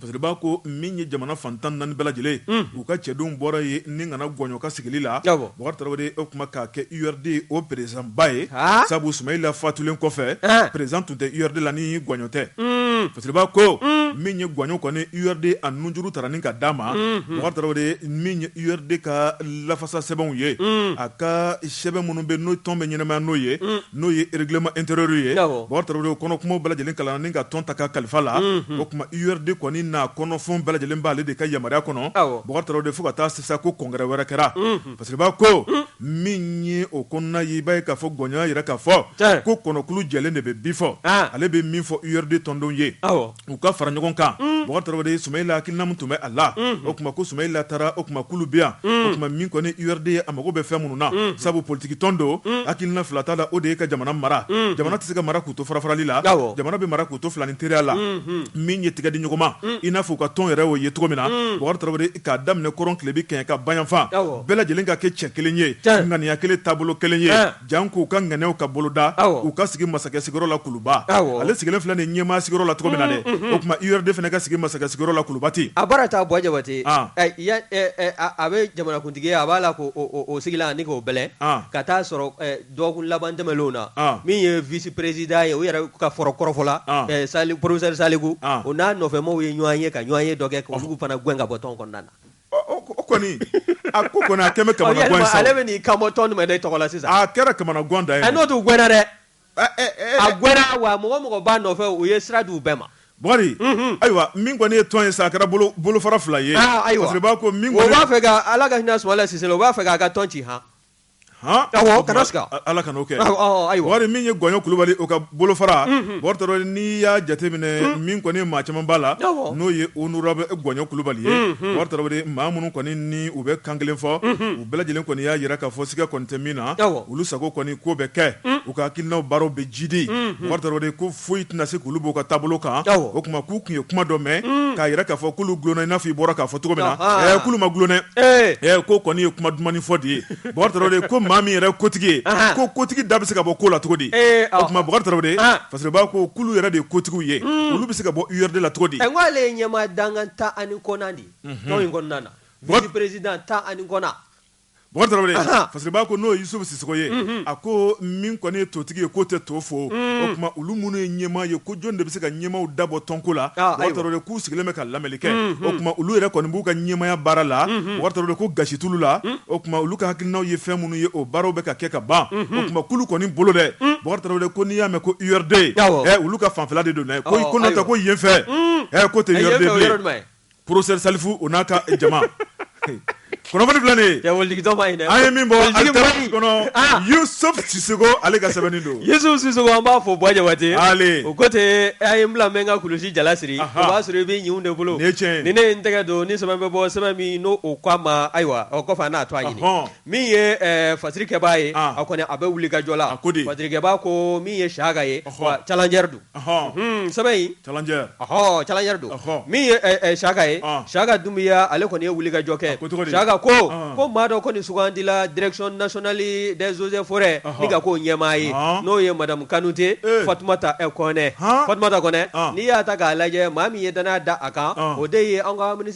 Fasiriba ko min ye jamana fantan naani bɛɛ lajɛlen u ka cɛdenw bɔra ye ni ka na Gwaɲɔ ka sigili la Bɔkari Tarawele o tuma k'a kɛ URD o président ba ye sabu Sumayila fatulen kɔfɛ président tun tɛ URD la ni Gwaɲɔ tɛ fasiriba ko min ye Gwaɲɔ kɔni URD a nunjuru taara ni ka d'a ma Bɔkari Tarawele min ye URD ka lafasa sɛbɛnw ye a ka sɛbɛn minnu bɛ n'o tɔn bɛ ɲɛnamaya n'o ye n'o ye règlement intérieur ye Bubakari Tarawele kɔnɔ kumaw bɛɛ lajɛlen kalanna ni ka tɔn ta ka kalifa la o kuma URD kɔni n'a kɔnɔ fɛnw bɛɛ lajɛlen b'ale de ka yamaruya kɔnɔ Bubakari Tarawele fo ka taa se sa ko congrès wɛrɛ kɛra Fasiriba ko min ye o kɔnɔna ye i b'a ye k'a fɔ Gɔɲɔn y'a jira k'a fɔ ko kɔnɔkulu jɛlen de bɛ bi fɔ ale bɛ min fɔ URD tɔndenw ye. u ka fara ɲɔgɔn kan Bubakari Tarawele Sumayila hakilina min tun bɛ a la o kuma ko Sumayila taara o kuma k'olu bɛ yan o kuma min kɔni URD ye a mago bɛ fɛn minnu na sabu politikitɔn don hakilina fila t'a la o de ye ka jamana mara jamana tɛ se ka mara k'u to farafarali la jamana bɛ mara k'u to filanin teriya la min ye tɛgɛ di ɲɔgɔn ma i n'a fɔ u ka tɔn yɛrɛ o ye cogo min na Bubakari Tarawele k'a daminɛ kɔrɔn tilebin kɛɲɛka bayanfan bɛɛ lajɛlen ka kɛ cɛ kelen ye ŋaniya kelen taabolo kelen ye jan k'u ka ŋaniyaw ka boloda u ka sigi masakɛ sigiyɔrɔ la Kuluba ale sigilen filɛ nin ɲɛmaa sigiyɔrɔ la cogo min na dɛ o kuma URD fana ka sigi masakɛ sigiyɔrɔ la Kuluba ten a baara taa Buwa Jabate a bɛ jamanakuntigi a b'a la k'o sigilan ani k'o bɛlɛ ka t'a sɔrɔ dɔgɔkun laban tɛmɛnlen na min ye vice président ye u yɛrɛ ka fɔ rɔ kɔrɔfɔla sa professeur Saliku o n'a nɔfɛmaw ye ɲɔgɔn ye ka ɲɔgɔnye dɔ kɛ k'olu fana gɛn ka bɔ tɔn kɔnɔna na kɔni a ko kɔni a kɛlen bɛ kamanagan ye sa o. Ale bɛ n'i kan bɔ tɔn jumɛn de tɔgɔ la sisan. A kɛra kamanagan dan ye. Ɛ n'o tɛ u gɛnna dɛ. A gɛnna wa mɔgɔ mɔgɔ b'a nɔfɛ u ye sira di u bɛɛ ma. Bukari ayiwa min kɔni ye tɔn ye sa a kɛra bolo bolofara fila ye. Aa ayiwa Fasiriba ko min kɔni. O b'a fɛ ka Ala ka hinɛ Sumayila Sise la o b'a fɛ k'a ka tɔn ci han. min ye Gɔɲɔn Kulubali o ka bolofara Bubakari Tarawele n'i y'a jateminɛ min kɔni maa caman b'a la n'o ye honorable Gɔɲɔn Kulubali ye Bubakari Tarawele maa minnu kɔni ni u bɛ kan kelen fɔ u bɛɛ lajɛlen kɔni y'a jira k'a fɔ siga kɔni tɛ min na olu sago kɔni ko bɛ kɛ u ka hakilina baara bɛ jidi foyi tɛna se k'olu b'u ka taabolo kan o kuma k'u tun ye kuma dɔ mɛn mm. k'a jira k'a fɔ k'olu dulonna i n'a fɔ i bɔra k'a fɔ cogo min na ah. k'olu ma dulon dɛ eh. eh, ko kɔni ye kuma dumanni fɔ de ye Bubakari Tarawele ko maa min yɛrɛ kotigi ye ah. ko kotigi da bɛ se ka bɔ ko la cogo di eh, o kuma Bubakari Tarawele ah. Fasiriba ko k'olu yɛrɛ de ye kotigiw ye mm. olu bɛ se ka bɔ URD la cogo di n ko ale ye ɲɛmaa dankan tan ani kɔnɔntɔnnan de ye mhm. tɔn in kɔnɔna na vice président tan ani kɔnɔntɔnnan Fasiriba ko n'o ye Yusufu Sisoko ye a ko min kɔni ye totigi ye k'o tɛ to fo o kuma olu minnu ye ɲɛmaa ye ko jɔn de bɛ se ka ɲɛmaaw dabɔ tɔnko la k'u sigilen bɛ ka lamɛnli kɛ o kuma olu yɛrɛ kɔni b'u ka ɲɛmaaya baara la ko gasi t'olu la o kuma olu ka hakilinaw ye fɛn minnu ye o baaraw bɛ ka kɛ ka ban k'olu kɔni bolo dɛ ko n'i y'a mɛn ko URD olu ka fanfɛ de don ko ko ko yen fɛ ko porofesɛri salifu o n'a ka jama kunnafoni filɛ nin ye an ye min bɔ ah! yusufu sisoko ale ka sɛbɛn don yusufu sisoko an b'a fɔ buwa jabate o ko ten a ye n bila n bɛ n ka kulusi jalasiri o b'a sɔrɔ i bɛ ɲin de bolo ni ne ye n tɛgɛ don ni sɛbɛn bɛ bɔ sɛbɛn min n'o o k'a ma ayiwa o kɔfɛ a n'a to a ɲini min ye fasirikɛbaa ye ah. a kɔni a bɛ wuli ka jɔ la a ko di fasirikɛbaa ko min ye siyaka ye challenger don Ɔhɔn sɛbɛn in challenger don min ye siyaka ye siyaka dunbiya ale kɔni ye wuli ka jɔ kɛ siyaka ko ko maa dɔ kɔni sugandila direction nationale des eaux et forêts ni ka k'o ɲɛmaa ye n'o ye madamu kanute fatumata kɔnɛ fatumata kɔnɛ n'i y'a ta k'a lajɛ maa min ye dannaya da a kan o de ye an ka mini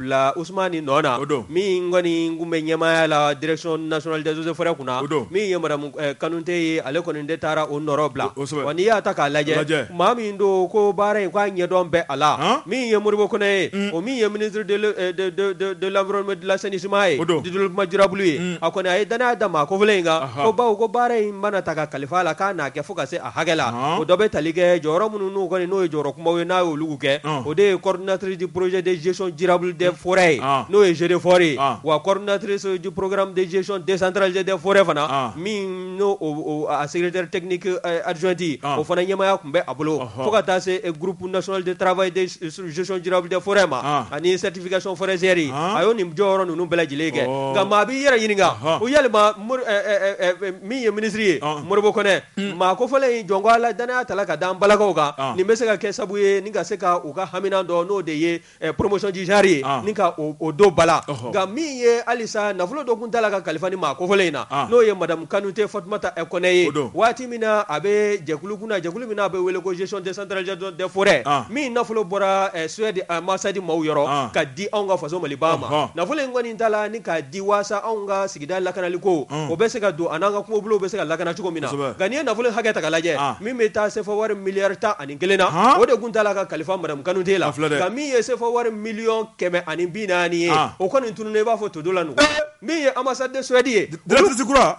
bila us ni nɔ na o don min kɔni tun bɛ ɲɛmaaya la drecon naonalisofɛ kunna o don min ye kanute ye ale kɔni de taara o nɔ bila o n'i y'a ta k'a lajɛ maa min don ko baara in k'a ɲɛdɔn bɛɛ a la min ye moriɔribɔ kɔnɔ ye o min ye mini laɔrɔ dilanlasesima ye o don didimajurabu ye a kɔni a ye dan' da maa ko in kan baw ko baara in mana ta ka kalifa la k'a'a kɛ fo ka se hakɛ la o dɔ bɛ tali kɛ jɔyɔrɔ minnu n'u kɔni n'o ye jɔyɔrɔ kumabaw ye n'a ye olu kɛ o de ye coordinatrice du projet de gestion durable des forêts ye n'o ye GDFOR ye wa coordinatrice du programme de gestion décentralisée des forêts fana min n'o o a secrétaire technique adjointe o fana ɲɛmaaya tun bɛ a bolo fo ka taa se groupe national de travail de gestion durable des forêts ma ani certification forestière a y'o nin jɔyɔrɔ ninnu bɛɛ lajɛlen kɛ nka maa b'i yɛrɛ ɲininka ko yali maa min ye minisiri ye Modibo Konɛ Maa kofɔlen in jɔn ko la dannaya tala ka da an balakaw kan nin bɛ se ka kɛ sabu ye ni ka se ka u ka hami dɔ n'o de ye promotion du genre ye ni ka o don ba la nka min ye halisa nafolo dɔ kun tala ka kalifa ni maa kofɔlen in na n'o ye madamu kanute fatumata kɔnɛ ye waati min na a bɛ jɛkulu kunna jɛkulu min a bɛ wele ko gestion décentralisée des forêts min nafolo bɔra Suède ambassade maaw yɔrɔ ka di anw ka faso mali ma nafolo in kɔni tala ni k'a di waasa anw ka sigi sigida lakanali ko o bɛ se ka don a n'an ka kungo bɛ se ka lakana cogo min na nka n'i ye nafolo hakɛ ta ka lajɛ min bɛ taa sefa wari miliyari tan ani kelen na o de kun tala ka kalifa madamu kanute la nka min ye sefa wari miliyɔn kɛmɛ ani bi naani ye o kɔni tununnen i b'a fɔ to don la min ye ambassade de Suède ye directrice kura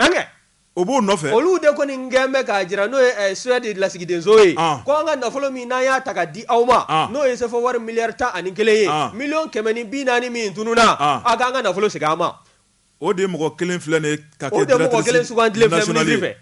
o b'o nɔfɛ olu de kɔni gɛn bɛ k'a jira n'o ye Suède lasigidenso ye k' an ka nafolo min n'an y'a ta ka di aw ma n'o ye sefa wari miliyari tan ani kelen ye miliyɔn kɛmɛ ni bi naani min tununna a k'an ka nafolo segin an ma O de ye mɔgɔ kelen filɛ nin ye ka kɛ directrice nationale ye. O de ye mɔgɔ kelen sugantilen filɛ ministre fɛ.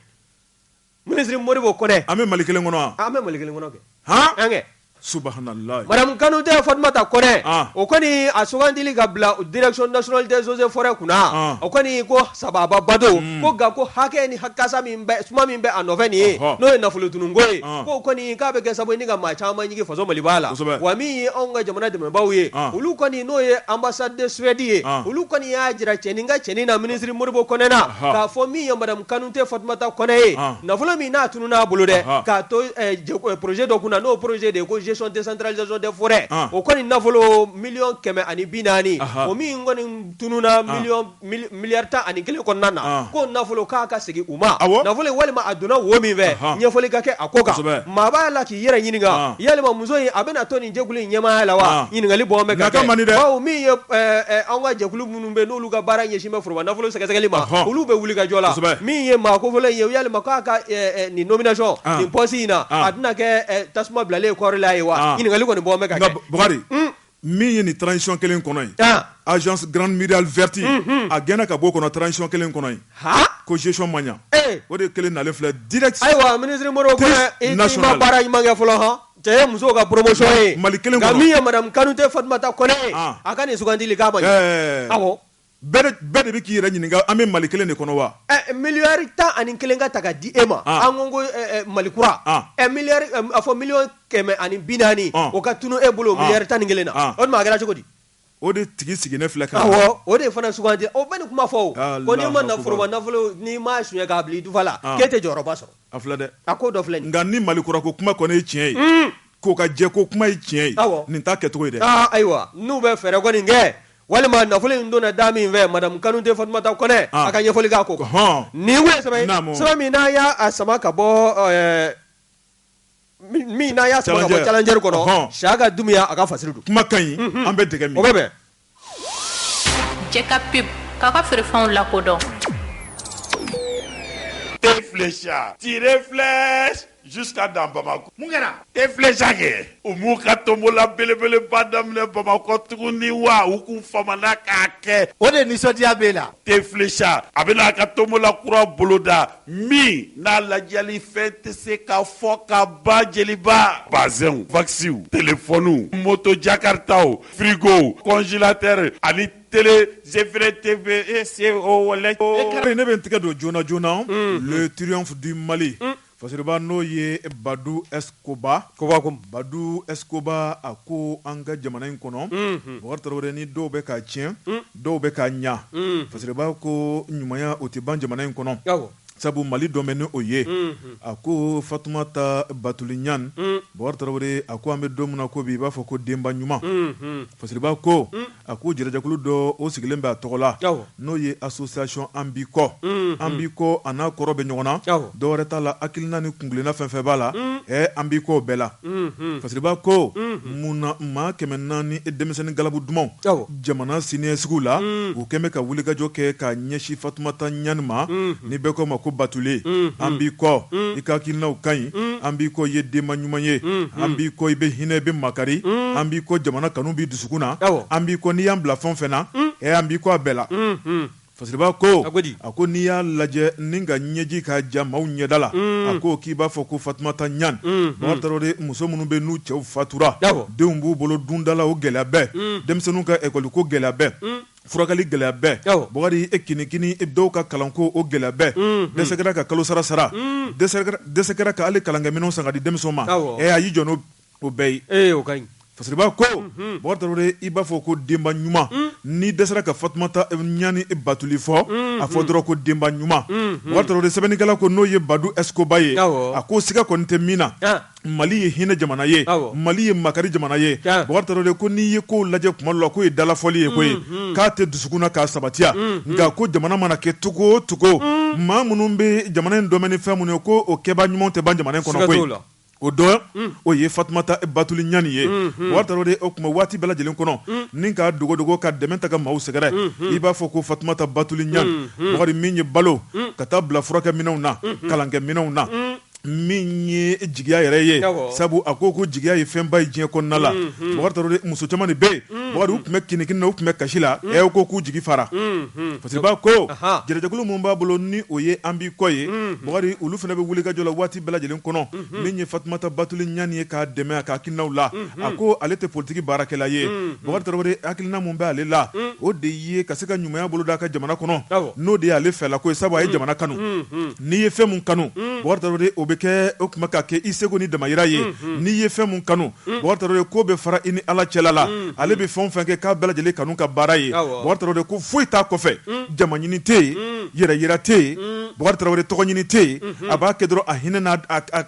Ministre Modibo Konɛ. An bɛ Mali kelen kɔnɔ wa? An bɛ Mali kelen kɔnɔ kɛ. Han! An kɛ. Subahanalayi. Madame Kanute Fatumata Konɛ. An! O kɔni a sugantili ka bila direction nationale des eaux et forêts kunna. An! O kɔni ko sababa ba don. Un! Ko nka ko hakɛ ni ha kasa min bɛ suma min bɛ a nɔfɛ nin ye. Ɔhɔ! N'o ye nafolotununko ye. An! K'o kɔni k'a bɛ kɛ sababu ye ni ka maa caman ɲigin faso Maliba la. Kosɛbɛ! Wa min ye anw ka jamana dɛmɛnbaaw ye. An! Olu kɔni n'o ye ambassade de Suède ye olu kɔni y'a jira cɛnin ka cɛnin na ministre Modibo Kɔnɛ na k'a fɔ min ye madame Kanute Fatumata Kɔnɛ ye nafolo min n'a tununna a bolo dɛ k'a to poroze dɔ kunna n'o poroze de ye ko gestion décentralisation des forêts o kɔni nafolo miliyɔn kɛmɛ ani bi naani o min kɔni tununna miliy Miliyari tan ani kelen kɔnɔna na ko nafolo k'a ka segin u ma nafolo walima a donna wo min fɛ ɲɛfɔli ka kɛ a ko kan maa b'a la k'i yɛrɛ ɲininka yalima muso in a bɛna to nin jɛkulu in ɲɛmaaya la wa ɲininkali bɔ bɛ ka kɛ bawo min ye an ka jɛkulu minnu bɛ n'olu ka baara ɲɛsin bɛ foroba nafolo sɛgɛsɛgɛli ma olu bɛ wuli ka jɔ la min ye maa kofɔlen ye yalima k'a ka nin nomination nin poste in na a tɛna kɛ tasuma bilalen kɔɔri la ye wa ɲininkali kɔni bɔ min ye nin transition kelen kɔnɔ ye agence grande muraille verte a gɛnna ka bɔ o kɔnɔ transition kelen kɔnɔ ye ko gestion ma ɲɛ o de kelen nalen filɛ direct ayiwa ministre Modibo Kɔnɛ i ma baara ɲuman kɛ fɔlɔ han cɛ muso ka promotion ye Mali kelen nka min ye madame Kanute Fatumata Kɔnɛ ye a ka nin sugandili k'a ma ɲɛ Bɛɛ de bɛ k'i yɛrɛ ɲininka an bɛ mali kelen de kɔnɔ wa miliyari tan ani kelen ka ta ka di e ma an ko ko Mali kura miliyari a fɔ miliyɔn kɛmɛ ani bi naani o ka tunun e bolo miliyari tan ni kelen na o tuma a kɛra cogo di o de tigi sigilen filɛ ka o de fana sugandi o bɛ nin kuma fɔ ko n'i ma foroba nafolo n'i ma sonya k'a bila i dufa la k'e tɛ jɔyɔrɔba sɔrɔ a filɛ dɛ a ko dɔ filɛ nka ni mali kura ko kuma kɔni ye tiɲɛ ye k'o ka jɛ ko kuma ye tiɲɛ ye nin t'a kɛcogo ye dɛ ayiwa n'u bɛ fɛɛrɛ kɔni kɛ Walima nafolo in donna da min fɛ madame Kanute Fatumata Kɔnɛ a ka ɲɛfɔli kɛ ko nin sɛbɛn min n'a y'a sama ka bɔ min n'a y'a sama ka bɔ Challenger kɔnɔ Siyaka Dumuya a ka fasiri don kuma ka ɲi an bɛ dɛmɛ mɔgɔ bɛ cɛ ka pub k'a ka feerefɛnw lakodɔn thé Flecha Jusqu'à dans bamakɔ mun kɛra thé Flecha kɛ u b'u ka tombola belebeleba daminɛ bamakɔ tuguni wa u kun faamana k'a kɛ o de nisɔndiya b'e la thé Flecha a bɛna a ka tombola kura boloda min n'a ladiyalifɛn tɛ se ka fɔ ka ban jeliba bazɛnw wakisiw telefɔniw moto jakartaw firigow congélateur ani tele GFR TV e se o wale kari ne bɛ tigɛ don joona joona le triomphe du mali fasiriba n'o ye badu escoba badu escoba a ko an ka jamana in kɔnɔ bakari tarawele ni dɔw bɛ ka tiɲɛ dɔw bɛ ka ɲa fasiriba ko ɲumanya o tɛ ban jamana in kɔnɔ sabu mali dɔ bɛ ni o ye a ko fatumata batuli ɲani bakari tarawele a ko an bɛ don min na ko bi i b'a fɔ ko denba ɲuman fasiriba ko a ko jɛrɛjɛkulu dɔ o sigilen bɛ a tɔgɔ la n'o ye association an b'i kɔ an b'i kɔ a n'a kɔrɔ bɛ ɲɔgɔn na dɔwɛrɛ t'a la hakilina ni kungolona fɛn fɛn b'a la an b'i kɔ bɛɛ la fasiriba ko munna maa kɛmɛ naani denmisɛnnin galabu dumanw Jamana siniɲɛsigiw la, u kɛn bɛ ka wulikajɔ kɛ ka ɲɛsin Fatumata Ɲani ma, ni bɛɛ k'a ma ko Batuli, an b'i kɔ, i ka hakilinaw ka ɲi, an b'i kɔ, i ye denba ɲuman ye, an b'i kɔ, i bɛ hinɛ, i bɛ makari, an b'i kɔ, jamana kanu b'i dusukun na, an b'i kɔ, n'i y'an bila fɛn o fɛn na, ee an b'i kɔ a bɛɛ la. Fasiriba ko a ko n'i y'a lajɛ ni ka ɲɛji ka ja maaw ɲɛda la a ko k'i b'a fɔ ko fatumata ɲani bakari tarawele muso minnu bɛ n'u cɛw fatura denw b'u bolo dundala o gɛlɛya bɛɛ denmisɛnninw ka ɛkɔli ko gɛlɛya bɛɛ furakɛli gɛlɛya bɛɛ bakari e kinikini dɔw ka kalanko o gɛlɛya bɛɛ dɛsɛ kɛra ka kalosara sara dɛsɛ kɛra ka hali kalankɛminɛn san ka di denmisɛn ma a y'i jɔ n'o O bɛɛ ye o ka ɲi fasiriba ko bakari tarawele i b'a fɔ ko denba ɲuman ni dɛsɛra ka fatumata ɲani batuli fɔ a fɔ dɔrɔn ko denba ɲuman bakari tarawele sɛbɛnnikɛla ko n'o ye badu escoba ye a ko siga kɔni tɛ min na mali ye hinɛ jamana ye mali ye makari jamana ye bakari tarawele ko n'i ye kow lajɛ kuma dɔ la k'o ye dalafɔli ye koyi k'a tɛ dusukun na k'a sabatiya nka ko jamana mana kɛ cogo o cogo maa minnu bɛ jamana in dɛmɛ ni fɛn minnu ye ko o kɛba ɲuman tɛ ban jamana kɔnɔ la o dɔ o ye fatumata batuli ɲani ye bakari tarawele o tuma waati bɛɛ lajɛlen kɔnɔ ni ka dogodogo ka dɛmɛ ta ka maaw sɛgɛrɛ i b'a fɔ ko fatumata batuli ɲani bakari min ye balo ka taa bila furakɛminɛnw na kalankɛminɛnw na min ye jigiya yɛrɛ ye sabu a ko ko jigiya ye fɛnba ye diɲɛ kɔnɔna la muso caman de bɛ yen bakari u tun bɛ kinikini na u tun bɛ kasi la u ko k'u jigi fara fasiriba ko jɛrɛjɛkulu min b'a bolo ni o ye an b'i kɔ ye olu fana bɛ wulikajɔ la waati bɛɛ lajɛlen kɔnɔ min ye fatumata batuli ɲani ye k'a dɛmɛ a ka hakilinaw la a ko ale tɛ politiki baarakɛla ye bakari tarawele hakilina min bɛ ale la o de ye ka se ka ɲumanya bolo d'a ka jamana kɔnɔ n'o de y'ale fɛla ko ye sabu a ye jamana kanu n'i ye fɛn min kanu bakari tarawele o bɛ kɛ o tuma ka kɛ i seko n'i damayira ye n'i ye fɛn min kanu bakari tarawele k'o bɛ fara i ni ala cɛla la ale bɛ fɛn o fɛn kɛ k'a bɛɛ lajɛlen kanu ka baara ye bakari tarawele ko foyi t'a kɔfɛ jama ɲini tɛ yen yɛrɛ yira tɛ yen Bukari Tarawele tɔgɔ ɲini tɛ yen, unhun, a b'a kɛ dɔrɔn a hinɛ n'a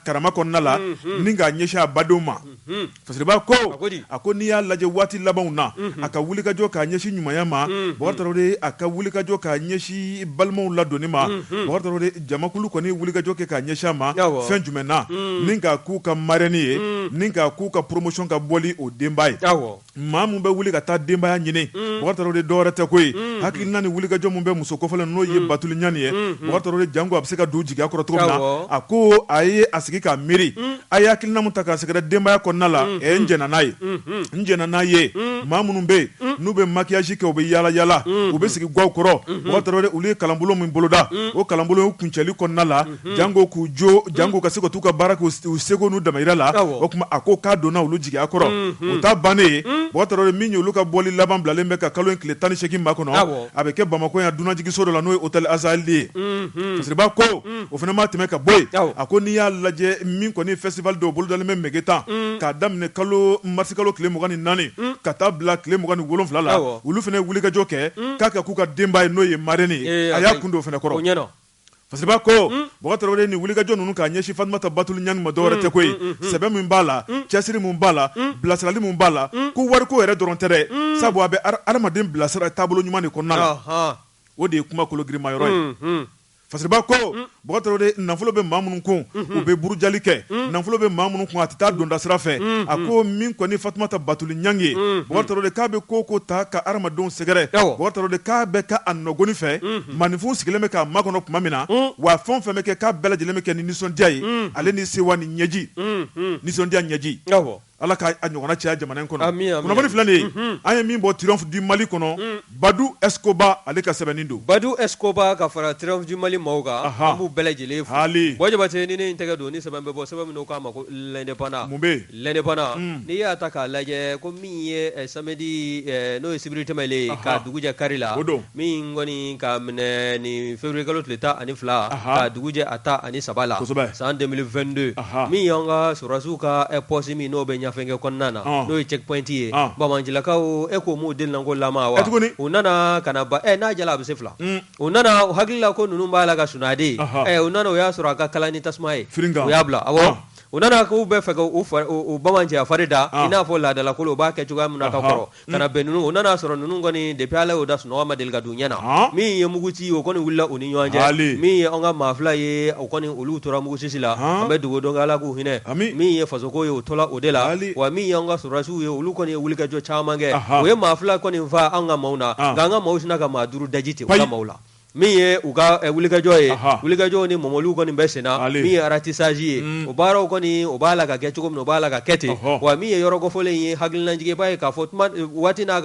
karama kɔnɔna la, unhun, ni k'a ɲɛsin a badenw ma, unhun, Fasiriba ko, a ko di? a ko n'i y'a lajɛ waati labanw na, unhun, a ka wulikajɔ k'a ɲɛsin ɲumanya ma, unhun, Bukari Tarawele a ka wulikajɔ k'a ɲɛsin balimaw ladonni ma, unhun, Bukari Tarawele jamakulu kɔni ye wulikajɔ kɛ k'a ɲɛsin a ma, awɔ, fɛn jumɛn na? un, ni k'a k'u ka marraine ye, un, ni k'a k'u ka promotion ka bɔli o denba ye, awɔ. maa min bɛ wuli ka taa denbaya ɲini mm. Bukari Tarawele dɔwɛrɛ tɛ koyi mm. hakilina ni wulikajɔ min bɛ muso kofɔlen n'o ye mm. Batuli Ɲani ye Bukari Tarawele janko a bɛ se ka don jigiya kɔrɔ cogo min na a ko a ye a sigi k'a miiri a ye hakilina min ta k'a sɛgɛrɛ denbaya kɔnɔna la ɛ n jɛnna n'a ye n jɛnna n'a ye maa minnu bɛ yen n'u bɛ maquillage kɛ u bɛ yaala yaala u bɛ sigi gaw kɔrɔ Bukari Tarawele olu ye kalanbolo min boloda o kalanbolo kuncɛli kɔnɔna la janko k'u jo janko ka se ka taa u ka baara k'u seko n'u damayira la o tuma a ko k'a donna olu jigiya kɔrɔ o t'a bannen ye Bukari Tarawele min ye olu ka bɔli laban bilalen bɛ ka kalo in tile tan ni segin makɔnɔ a bɛ kɛ Bamakɔ yan dunanjiginso dɔ la n'o ye hôtel Azalaï ye Fasiriba ko o fana ma tɛmɛ ka bɔ yen a ko n'i y'a lajɛ min kɔni festival dɔ bolodalen bɛ Megetan k'a daminɛ kalo marisi kalo tile mugan ni naani ka taa bila tile mugan ni wolonwula la olu fana ye wulikajɔ kɛ k'a kɛ k'u ka denba ye n'o ye marraine ye a y'a kun don o fana kɔrɔ Fasiriba ko Bukari Tarawele ni wulikajɔ ninnu k'a ɲɛsin Fatumata Batuli Ɲani ma dɔwɛrɛ tɛ koyi sɛbɛ min b'a la cɛsiri min b'a la bilasirali min b'a la ko wariko yɛrɛ dɔrɔn tɛ sabu a bɛ adamaden bilasira taabolo ɲuman de kɔnɔna la o de ye kuma kolo girinman yɔrɔ ye Fasiriba ko Bukari Tarawele nafolo bɛ maa minnu kun u bɛ burujali kɛ nafolo bɛ maa minnu kun a tɛ taa donda sira fɛ a ko min kɔni Fatumata Batuli Ɲani ye Bukari Tarawele k'a bɛ k'o ta ka adamadenw sɛgɛrɛ Bukari Tarawele k'a bɛ ka a nɔgɔkɔni fɛ maninfinw sigilen bɛ k'a makɔnɔ tuma min na wa fɛn o fɛn bɛ kɛ k'a bɛɛ lajɛlen bɛ kɛ ni nisɔndiya ye ale ni sewa ni ɲɛji nisɔndiya ɲɛji ala k'a ɲɔgɔnna caya jamana in kɔnɔ kunnafoni filɛ nin ye an ye min bɔ Triomphe du Mali kɔnɔ Badou Escobar ale ka sɛbɛnni don Badou Escobar ka fara Triomphe du Mali maaw kan an b'u bɛɛ lajɛlen fo Jabate ni tɛgɛ don ni sɛbɛn bɔ sɛbɛn k'a ma ko L'Indépendant L'Indépendant n'i y'a ta k'a lajɛ ko min ye samedi n'o ye sibiri tɛmɛnen ye ka dugu jɛ kari la, o don, min kɔni ka minɛ ni février kalo tile tan ani fila ka dugu jɛ a tan ani saba la, kosɛbɛ, san 2022 min y'an ka sɔrɔdasiw ka poste min n'o bɛ Ɲafunke kɔnɔna na n'o ye checkpoint ye banmanjilakaw e ko m'u delinanko lama wa, e tuguni, u nana ka na ban ɛ n'a diyara a bɛ se fila, un, u nana u hakili la ko ninnu b'a la ka sunɔgɔ dɛ, ɛ u nana u y'a sɔrɔ a ka kalan ni tasuma ye, firinta, u y'a bila, awɔ U nana ko u bɛ fɛ k'u bamanan cɛ fari da i n'a fɔ laadalako la u b'a kɛ cogoya min na ka kɔrɔ ka bɛn ninnu u nana a sɔrɔ ninnu kɔni depuis ala y'u da sunɔgɔ ma deli ka don ɲɛ na min ye muguci o kɔni wilila u ni ɲɔgɔn cɛ min ye an ka maa fila ye o kɔni olu tora muguci la an bɛ dugawu don ala k'u hinɛ min ye fasoko ye o tola o de la wa min ye an ka sɔrɔdasiw ye olu kɔni ye wulikajɔ caman kɛ u ye maa fila kɔni faa an ka maaw na nka an ka maaw sinna ka maa duuru daji tɛ maaw la Min ye u ka wulikajɔ ye wulikajɔ ni mɔmɔliw kɔni bɛ senna min ye aratisaji ye o baaraw kɔni o b'a la ka kɛ cogo min o b'a la ka kɛ ten wa min ye yɔrɔ kofɔlen ye hakilinajigi i b'a ye k'a fɔ waati n'a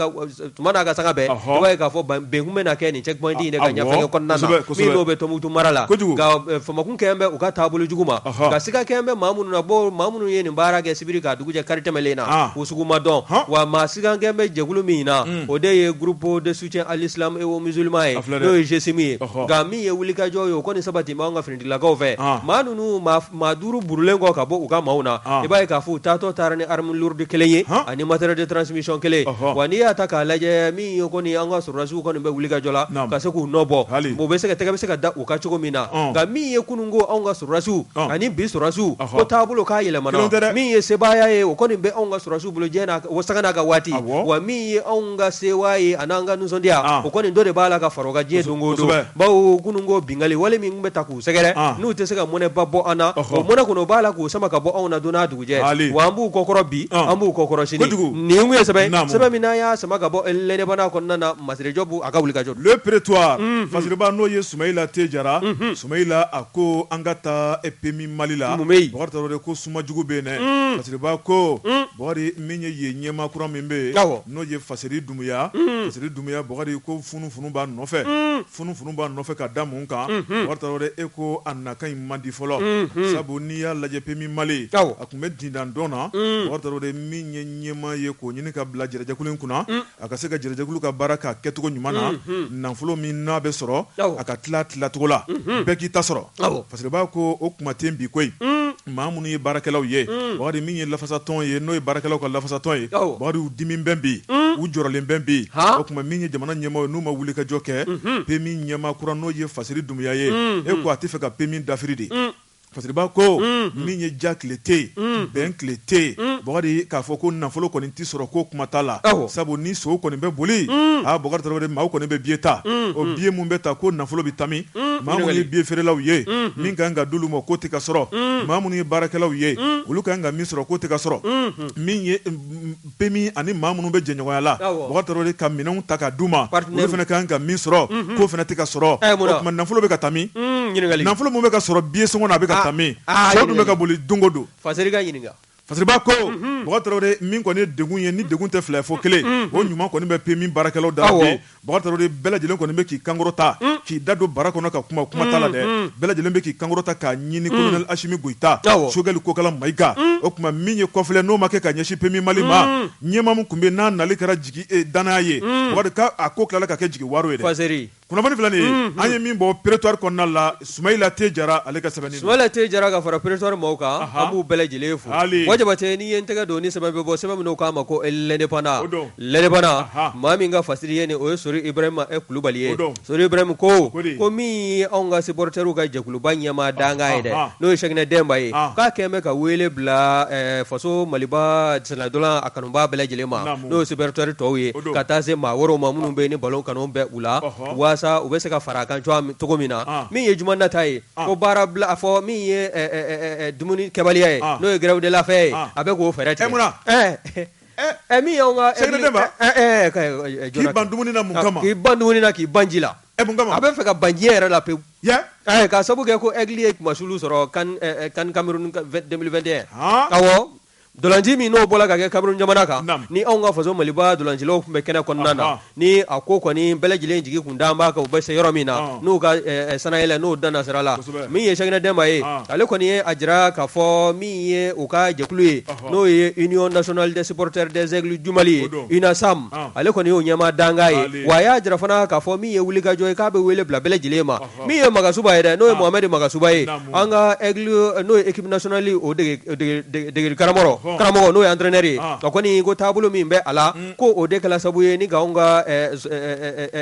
tuma n'a ka sanga bɛɛ ye k'a fɔ bɛnkun bɛ na kɛ nin checkpoint de kan Ɲafunke n'o bɛ Tɔnbutu mara la famakun kɛ bɛ u ka taabolo jugu ma nka siga kɛ bɛ maa minnu na maa minnu ye nin baara kɛ sibiri ka dugujɛ kari tɛmɛlen na o sugu ma dɔn wa maa siga kɛ bɛ jɛkulu min na o de ye groupe de soutien à l'islam et aux musulmans ye n'o ye GSIM ye nka min ye wulikajɔ ye o kɔni sabati b'anw ka finitigilakaw fɛ maa ninnu maa duuru burulen kɔ ka bɔ u ka maaw na i b'a ye k'a fɔ u taatɔ taara ni arme lourde kelen ye ani matériel de transmission kelen wa n'i y'a ta k'a lajɛ min ye kɔni an ka sɔrɔdasiw kɔni bɛ wulikajɔ la ka se k'u nɔ bɔ hali bɛ se ka tɛgɛ bɛ se ka da u kan cogo min na nka min ye kunun ko anw ka sɔrɔdasiw ani bi sɔrɔdasiw taabolo ka yɛlɛma min ye sebaaya ye o kɔni bɛ anw ka sɔrɔdasiw bolo diɲɛ, o sanga n'a ka waati, awɔ, wa min ye anw ka sewa ye ani an ka nisɔndiya, an, o kɔni dɔ de b'a la ka fara o kan diɲɛ don o don, kosɛbɛ, bawo kunun ko binkanni wale min tun bɛ ta k'u sɛgɛrɛ, an, n'u tɛ se ka mɔnɛba bɔ an na, ɔhɔ, o mɔnɛ kɔni o b'a la k'o sama ka bɔ anw na don n'a dugujɛ, haali, wa an b'u kɔkɔrɔ bi, an, an b'u kɔkɔrɔ sini, kojugu, nin tun ye sɛbɛn ye, naamu, sɛbɛn min n'an y'a sama ka bɔ L'Indépendant kɔnɔna na Masire Jɔbu a ka wulikajɔ don. Le Prétoire, unhun, fasiriba n'o ye Sumayila T. Jara, unhun, Sumayila a ko an ka taa PMU Mali la, mun bɛ yen, Bubakari Tarawele ko suma jugu bɛ yen dɛ fasiriba ko Bakari min ye yen ɲɛmaa kura min bɛ yen n'o ye Faseri Dumuya Faseri Dumuya Bakari ko funufunu b'a nɔfɛ funufunu b'a nɔfɛ ka da mun kan Bakari Tarawele e ko a nakan in man di fɔlɔ sabu n'i y'a lajɛ PMU Mali a tun bɛ dindan dɔn na Bakari Tarawele min ye ɲɛmaa ye k'o ɲini ka bila jɛrɛjɛkulu in kunna A ka se ka jɛrɛjɛkulu ka baara k'a kɛcogo ɲuman na nafolo min n'a bɛ sɔrɔ a ka tila tilacogo la bɛɛ k'i ta sɔrɔ fasiriba ko o kuma tɛ bi koyi maa minnu ye baarakɛlaw ye Bakari min ye lafasatɔn ye n'o ye baarakɛlaw ka lafasatɔn ye Bakari u dimi bɛ bi u jɔrɔlen bɛ bi o tuma min ye jamana ɲɛmaaw ye n'u ma wulikajɔ kɛ PMU ɲɛmaa kura n'o ye Faseri Dumuya ye e ko a tɛ fɛ ka PMU dafiri dɛ Fasiriba ko min ye ja tile tɛ yen bɛn tile tɛ yen Bakari k'a fɔ ko nafolo kɔni tɛ sɔrɔ ko kuma t'a la sabu ni sow kɔni bɛ boli aa Bakari Tarawele maaw kɔni bɛ billet ta o billet minnu bɛ ta ko nafolo bɛ taa min maa minnu ye billet feerelaw ye min ka kan ka d'olu ma k'o tɛ ka sɔrɔ maa minnu ye baarakɛlaw ye olu ka kan ka min sɔrɔ k'o tɛ ka sɔrɔ PMU ani maa minnu bɛ jɛɲɔgɔnya la Bakari Tarawele ka minɛnw ta ka d'u ma olu fana ka kan ka min sɔrɔ k'o fana tɛ ka sɔrɔ o tuma nafolo bɛ ka taa min nafolo min bɛ ka sɔrɔ billet sɔngɔ na a bɛ ka taa min sow dun bɛ ka boli don o don Faseri ka ɲininka fasiriba ko Bakari Tarawele min kɔni ye degun ye ni degun tɛ fila fo kelen o ɲuman kɔni bɛ PMU baarakɛlaw da Bakari Traore bɛɛ lajɛlen kɔni bɛ k'i kankɔrɔta, un, k'i da don bara kɔnɔ ka kuma, kuma t'a la dɛ, un, bɛɛ lajɛlen bɛ k'i kankɔrɔta k'a ɲini colonel Asimi Goyita, awɔ, Sogɛli Kokala Mayiga, un, o tuma min ye kɔfilɛ n'o ma kɛ ka ɲɛsin PMU Mali ma, un, ɲɛmaa min tun bɛ yen n'a nali kɛra jigi e dannaya ye, un, Bakari k'a ko tilala ka kɛ jigi waaro ye dɛ, Faseri, kunnafoni filɛ nin ye, unhun, an ye min bɔ pretoire kɔnɔna la Sumayila T Jara ale ka sɛbɛnni don. Sumayila T Jara ka fara pretoire maaw kan. Anhan! An b'u bɛɛ lajɛlen fo. Haali! Wa Jabate n'i ye n tɛgɛ don ni sɛbɛn bɛ bɔ, sɛbɛn min n'u k'a ma ko l'indépendant. O don. L'indépendant Anhan! Maa min ka fasiri ye nin, o ye Sori Ibrahima E Kulubali ye. O don. Sori Ibrahim ko. O ko de. Ko min ye anw ka supporters ka jɛkuluba ɲɛmaa dankan ye dɛ. Anhan! N'o ye Cheickna Demba ye. An! K'a kɛn bɛ ka weele bila ɛɛ faso Maliba sennantola a kanubaa bɛɛ lajɛlen ma. Naamu. N'o ye supporters tɔw ye. O don. Ka taa se maa wɛrɛw ma minnu bɛ ni ballon kanu bɛ u la. Ɔhɔ! walasa u bɛ se ka fara a kan cogo min na min ye juma nata ye ko baara bila a fɔ min ye dumuni kɛbaliya ye n'o ye grève de la faim ye a bɛ k'o fɛɛrɛ tigɛ min na min k'i ban dumuni na k'i ban ji la a bɛ fɛ ka ban ji yɛrɛ la pewu k'a sabu kɛ ko Aigles ye kunmasuli sɔrɔ CAN Cameroun 2021 Ntolanci min n'o bɔra ka kɛ Cameroun jamana kan ni anw ka faso maliba ntolancilaw tun bɛ kɛnɛ kɔnɔna na ni a ko kɔni bɛɛ lajɛlen jigi tun dalen b'a kan u bɛ se yɔrɔ min na n'u ka sannayɛlɛn n'o danna sira la min ye Cheickna Demba ye ale kɔni ye a jira k'a fɔ min ye u ka jɛkulu ye n'o ye Union nationale des supporters des Aigles du Mali ye UNASAM ale kɔni y'o ɲɛmaa dankan ye wa a y'a jira fana k'a fɔ min ye wulikajɔ ye k'a bɛ wele bila bɛɛ lajɛlen ma min ye Magasuba ye dɛ n'o ye Mohamed Magasuba ye an ka Aigles n'o ye équipe nationale o degedege karamɔgɔ n'o ye entraîneur ye o kɔni ko taabolo min bɛ a la ko o de kɛra sababu ye ni anw ka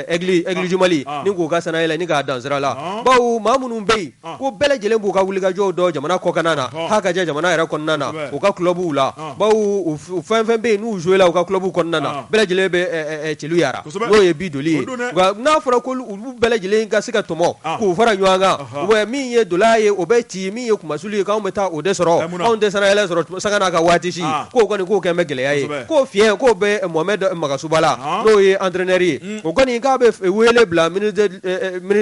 Aigles du Mali ni k'u ka sannayɛlɛn ni k'a dan sira la bawo maa minnu bɛ yen ko bɛɛ lajɛlen b'u ka wulikajɔw dɔn jamana kɔkan na ha ka jan jamana yɛrɛ kɔnɔna na u ka clubw la bawo fɛn o fɛn bɛ yen n'u jouéla u ka clubw kɔnɔna na bɛɛ lajɛlen bɛ celu yara n'o ye bi joli ye n'a fɔra olu bɛɛ lajɛlen ka se ka tɔmɔ k'u fara ɲɔgɔn kan min ye ntola ye o bɛ ci min ye kunmasuli ye k'anw bɛ taa o de sɔrɔ anw tɛ sannayɛlɛn sɔrɔ sanga n'a ka waati si k'o kɔni k'o kɛn bɛ gɛlɛya ye k'o fiɲɛ k'o bɛ Mohamed Magasuba la n'o ye entraîneur ye o kɔni k'a bɛ wele bila ministre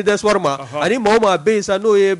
des sports ma ani maa o maa bɛ yen sa n'o ye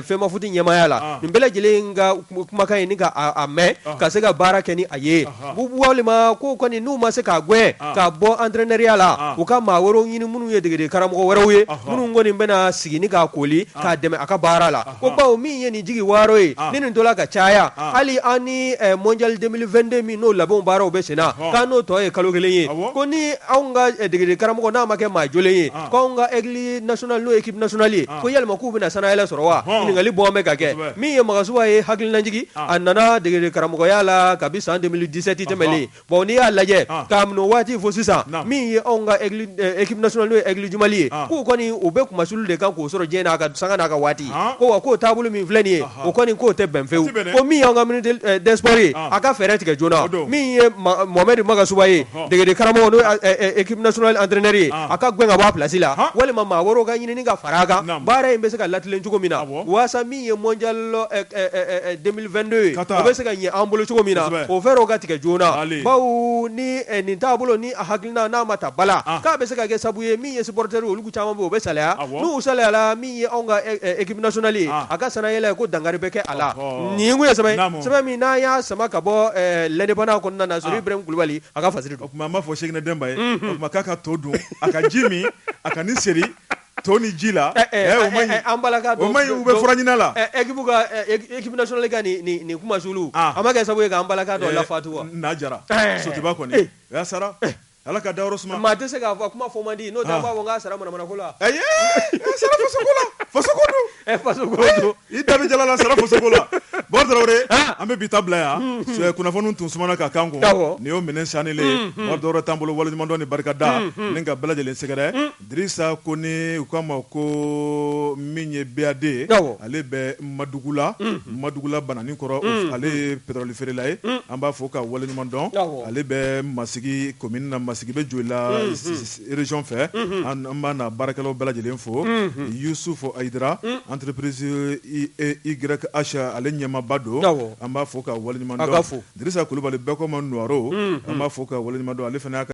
FEMAFOOT ɲɛmaaya la nin bɛɛ lajɛlen ka kumakan ye ni k'a mɛn ka se ka baara kɛ ni a ye walima ko kɔni n'u ma se k'a gɛn k'a bɔ entraîneurya la u ka maa wɛrɛw ɲini minnu ye degedege karamɔgɔ wɛrɛw ye minnu kɔni bɛna sigi ni k'a koli k'a dɛmɛ a ka baara la ko bawo min ye nin jigi waaro ye ni nin tola ka caya hali an ni mondial 2022 min n'o labɛn baaraw bɛ senna k'an n'o tɔ ye kalo kelen ye ko ni anw ka degedege karamɔgɔ n'a ma kɛ maa jɔlen ye ko anw ka Aigles national n'o ye équipe nationale ye ko yalima k'u bɛna sanayɛlɛ sɔrɔ wa ɲininkali bon bɛ ka kɛ min ye Magasuba ye hakilinajigi a nana degede karamɔgɔya la kabi san 2017 tɛmɛnlen bon n'i y'a lajɛ k'a minɛ o waati fo sisan min ye anw ka équipe nationale n'o ye Aigles du Mali ye k'u kɔni u bɛ kunmasuuli de kan k'o sɔrɔ diɲɛ n'a ka sanga n'a ka waati ko wa k'o taabolo min filɛ nin ye o kɔni k'o tɛ bɛn fewu ko min y'an ka ministre des sports ye a ka fɛɛrɛ tigɛ joona min ye Mohamed Magasuba ye degede karamɔgɔ n'o équipe nationale entraîneur ye a ka gɛn ka bɔ a plasi la walima maa wɛrɛw ka ɲini ka fara a kan baara in bɛ se ka latilen cogo min na waasa min ye mondial 2022 ye o bɛ se ka ɲɛ an bolo cogo min na o fɛɛrɛw ka tigɛ joona bawo ni nin taabolo ni a hakilina n'a ma ta bala k'a bɛ se ka kɛ sabu ye min ye supporter Caman u bɛ sa n'u sala min ye kakiinali a ka sɛnɛ yɛlɛ ko danga bɛ kɛ a la nin ye sɛbɛn min n'a y'a sama ka bɔ lɛnɛbana kɔnɔna sɔrɔ kulubali a ka fa o tuma b'a fɔ sɛgɛ denba ye ma ka to dun a ka ji min a ka se to ni ji la an bala bɛ furala ekili ka nin kuma s a ma kɛ sabu k'an balala faatu jara soba kɔni sara Ala ka dayɔrɔ suma, maa tɛ se k'a fɔ, kuma fɔ man di, n'o tɛ an b'a fɔ k'a sara manamana ko la, ayi, a sara faso ko la, faso ko don, ɛ faso ko don, i da bɛ jalan na, a sara faso ko la, Bakari Tarawele, an, an bɛ bi ta bila yan, un, kunnafoniw tun sumana ka k'an kun, awɔ, nin y'o minɛ sanilen ye, unhun, Bakari Tarawele t'an bolo, waleɲumandɔn ni barikada, unhun, ni ka bɛɛ lajɛlen sɛgɛrɛ, un Dirisa Kone u k'a ma ko min ye BAD ale bɛ Madugula Madugula bananin kɔrɔ ale ye petɔroli feerela ye an b'a fo k'a waleɲuman dɔn ale bɛ Masigi komini na Masigi bɛ Joyila région fɛ an b'a n'a baarakɛlaw bɛɛ lajɛlen fo Yusufu Ayidara entreprise YH ale ɲɛmaaba don an b'a fo k'a waleɲuman dɔn fo Dirisa Kulubali bɛɛ k'o ma Nuwaro an b'a fo k'a waleɲuman dɔn ale fana' kan